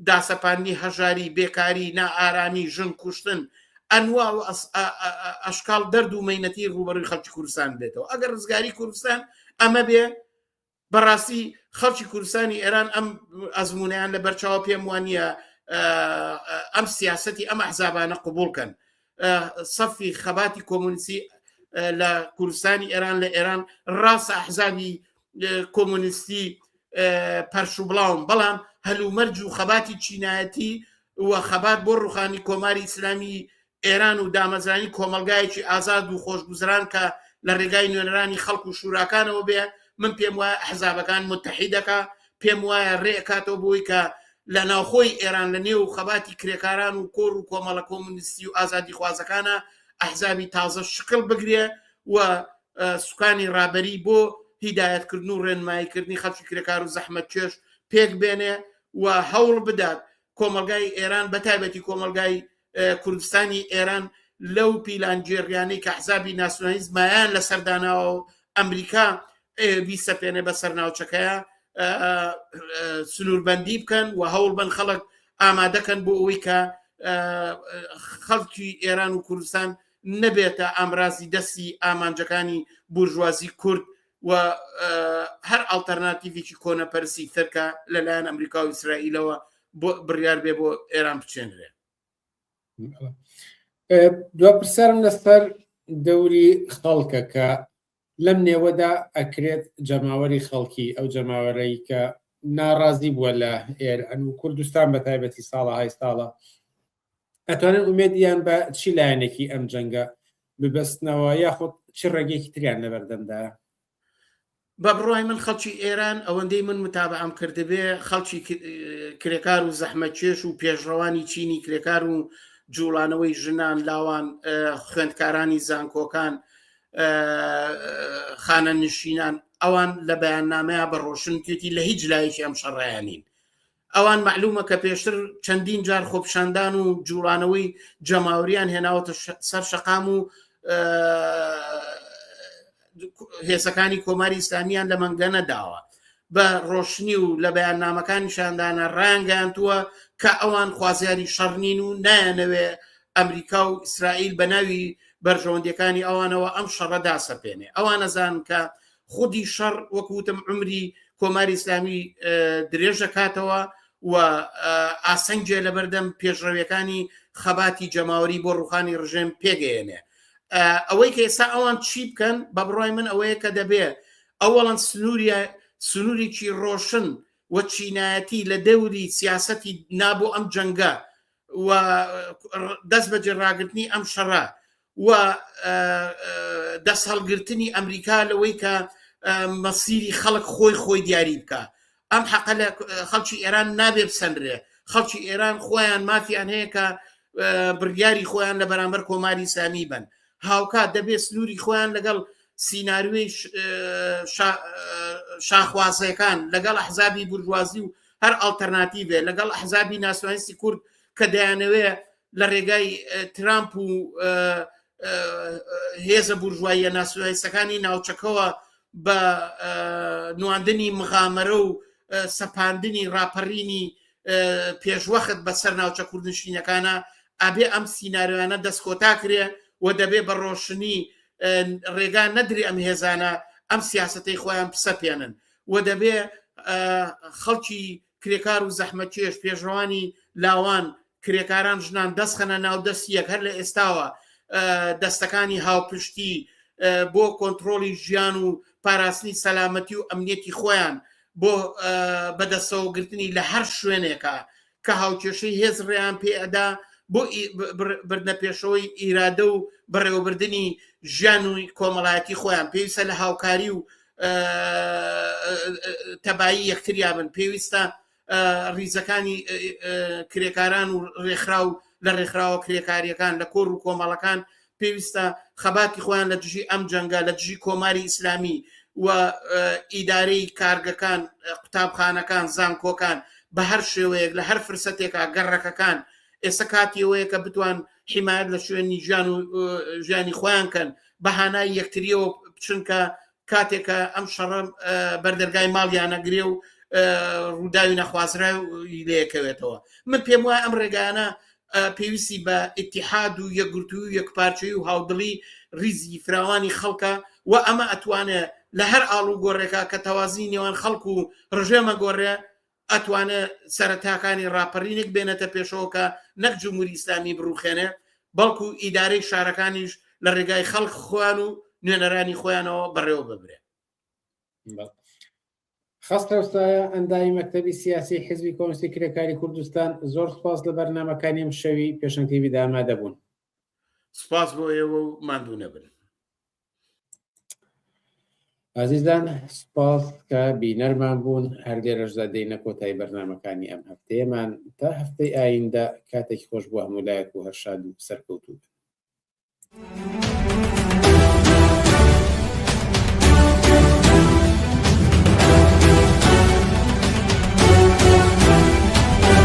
داسەپاندی هەژاری بێکاری نائارامی ژن کوشتن ئەنوا و ئەشکال دەرد و مینەتی ڕوبەروی خەڵکی کوردستان بێتەوە ئەگەر ڕزگاری کوردستان ئەمە بێ بەڕاستی خەڵکی کوردستانی ئێران ئەم ئەزمونیان لە بەرچاوە پێم وانە ئەم سیاستی ئەم ئەحزابانە قوبولکەن سەفی خەباتی کۆمونسی لە کوردستانی ئێران لە ئێران ڕاستە ئەحزابی کۆمونستی پەرشوبڵاوم بەڵام هەلومەرج و خەباتی چینایەتی و خەبات بۆ ڕوخانی کۆماری ئیسلامی ئێران و دامەزرانی کۆمەڵگایەکی ئازاد و خۆشگوزران کە لە ڕێگای نوێنەرانی خەڵک و شوراکانەوە بێ من پێم وایە ئەحزابەکان متحیدەکە پێم وایە ڕێکاتەوە بووی کە لە ناوخۆی ئێران لە نێو خەباتی کرێکاران و کۆر و کۆمەڵە کۆمونیستی و ئازادی خوازەکانە ئەحزابی تازە شکل بگرێ و سوکانی ڕابەری بۆ هیدایەتکردن و ڕێنماییکردنی خەڵکی کرێکار و زەحمەت چێش پێک بێنێ و هەوڵ بدات کۆمەلگای ئێران بەتایبەتی کۆمەلگای کوردستانی ئێران لەو پیلانگێڕیانەی کە حزابی ناسیۆنالیست مایان لە سەرداناوە و ئەمریکا بیسەپێنێ بە سەرناوچەکەیە سنووربندی بکەن و هەوڵ بن خەڵک ئامادەکەن بۆ ئەوی کە خەڵکی ئێران و کوردستان نەبێتە ئامرازی دەستی ئامانجەکانی بورژوازی کورد و هەر ئاڵتەرناتیڤێکی کۆنەپەرسی ترکە لەلایەن ئەمریکا و ئیسرائیلەوە بۆ بڕیار بێ بۆ ئێران بچێنرێ دو پرسیارم لەسەر دەوری خەڵکە کە لەم نێوەدا ئەکرێت جەماوەری خەڵکی ئەو جەماوەرەی کە ناڕازی بووە لە ئێران و کوردستان بە تایبەتی ساڵە های ساڵە ئەتوانن ئومێدیان بە چی لایەنێکی ئەم جەنگە ببەستنەوە یاخود چی ڕێگەیەکی تریان لەبەردەمدایە بە بڕای من خەڵکی ئێران ئەوەندەی من متابعام کردبێ خەڵکی کرێکار و زەحمە چێش و پێشڕەوانی چینی کرێکار و جوڵانەوەی ژنان لاوان خوێندکارانی زانکۆکان خانە نشینان ئەوان لە بەیاننامەیە بە ڕۆشنکێتی لە هیچ لایەکی ئەم شەڕایانین ئەوان مەعلومە کە پێشتر چەندین جار خۆپشاندان و جوڵانەوەی جەماوریان هێناوەتە سەر شەقام و هێزەکانی کۆماری ئیسلامیان لە مەنگە نەداوە بە ڕۆشنی و لە بەیان نامەکانی شاندانە ڕانگەیانتووە کە ئەوان خوازیاری شەڕنین و نایەنەوێ ئەمریکا و ئیسرائیل بە ناوی بەرژەوەندەکانی ئەوانەوە ئەم شەڕە داسەپێنێ ئەوانەزان کە خودی شەڕ وەکو وتم عمری کۆماری ئیسلامی درێژەکاتەوە و ئاسەنجێ لەبەردەم پێشڕەویەکانی خەباتی جەماوەری بۆ ڕوخانی ڕژێم پێگەیەنێ ئەوەی کە ئێستا ئەوان چی بکەن بە بڕای من ئەوەیە کە دەبێ ئەوەڵەن سنووریە سنوورێکی ڕۆشن و چینایەتی لە دەوری سیاسەتی نابوو ئەم جەنگە و دەست بەجێ ڕاگرتنی ئەم شەڕە و دەستهەڵگرتنی ئەمریکا لەوەی کە مەسیری خەڵک خۆی خۆی دیاری بکە ئەم حەقە لە خەڵکی ئێران نابێ بسەنرێ خەڵکی ئێران خۆیان مافیان هەیە کە بڕیاری خۆیان لە بەرامبەر کۆماری سامی بن هاوکات دەبێت سنووری خۆیان لەگەڵ سینناروی شاخوازەکان لەگەڵ حزابی برجوازی و هەر ئەلتەرناتیڤێ لەگەڵ حزابی ناسوانسی کورد کە دەیانەوێ لە ڕێگای ترامپ و هێزە بورژواییە ناسیۆنالیستەکانی ناوچەکەەوە بە نواندنی مغامەرە و سەپاندنی ڕاپەڕینی پێشوەخت بەسەر ناوچە کوردنشینەکانە ئابێ ئەم سینناریانە دەست کۆتا کرێ و دەبێ بە ڕۆشنی ڕێگا نەدری ئەم هێزانە ئەم سیاستەی خۆیان پسەپێنن و دەبێ خەڵکی کرێکار و زەحمەتکێش، پێشڕەوانی لاوان، کرێکاران، ژنان دەستخەنە ناو دەستی یەک هەر لە ئێستاوە دەستەکانی هاوپشتی بۆ کۆنتترۆلی ژیان و پاراستنی سەلامەتی و ئەمنیەتی خۆیان بۆ بەدەستەوەگرتنی لە هەر شوێنێکە کە هاوکێشەی هێز ڕێیان پێئەدا بۆ بردنە پێشەوەی ئیرادە و بەڕێوەبردننی ژیان و کۆمەڵایەتی خۆیان پێویستە لە هاوکاری و تەبایی یەکتریا بن پێویستە ریزەکانی کرێکاران و ڕێکخرا و لە ڕێکخراوە کرێکاریەکان لە کۆر و کۆمەڵەکان پێویستە خەباتی خۆیان لە دژی ئەم جەنگە لە دژی کۆماری ئیسلامی و ئیدارەی کارگەکان قوتابخانەکان زانکۆکان بە هەر شێوەیەک لە هەر فرسەتێکا گەڕەکەکان ئێستا کاتیەوەیە کە بتوان بە حیمایەت لە شوێنی ژیان و ژیانی خۆیان کەن بە هانای یەکتریەوە بچنکە کاتێکە ئەم شەڕە بەردەرگای ماڵیانەگرێ و ڕووداوی نەخوازرا لەکەوێتەوە من پێم وایە ئەم ڕێگانە پێویستی بە ئتیحاد و یەکگرتوو و یەکپارچەی و هاودڵی ریزی فراوانی خەڵکە و ئەمە ئەتوانێت لە هەر ئاڵ و گۆڕێکە کە تەوازی نێوان خەڵکو و ڕژێمە گۆڕێ ئەتوانێ سەرەتاکانی ڕاپەرینێک بێنێتە پێشەوە کە نەک جمهوری ئیسلامی بڕوخێنێ بەڵکو ئیدارەی شارەکانیش لە ڕێگای خەڵک خۆیان و نوێنەرانی خۆیانەوە بەڕێوە ببرێ خستەوسایە ئەندامی مەکتتەبی سیاسی حزبی کۆنسی کرێکاری کوردستان زۆر سپاس لە بەرنمەکانی ئەم شەوی پێشنگتیوی دامادەبوون سپاس بۆ ئێوە و مادوو نەبن ئازیزان سپاس کە بینەرمان بوون هەر لێرەشدا دێنە کۆتای بەرنمەکانی ئەم هەفتەیەمان تا هەفتەی ئایندە کاتێکی خۆش بۆ هەموو لایەک و هەرشاد و سەرکەوتوو.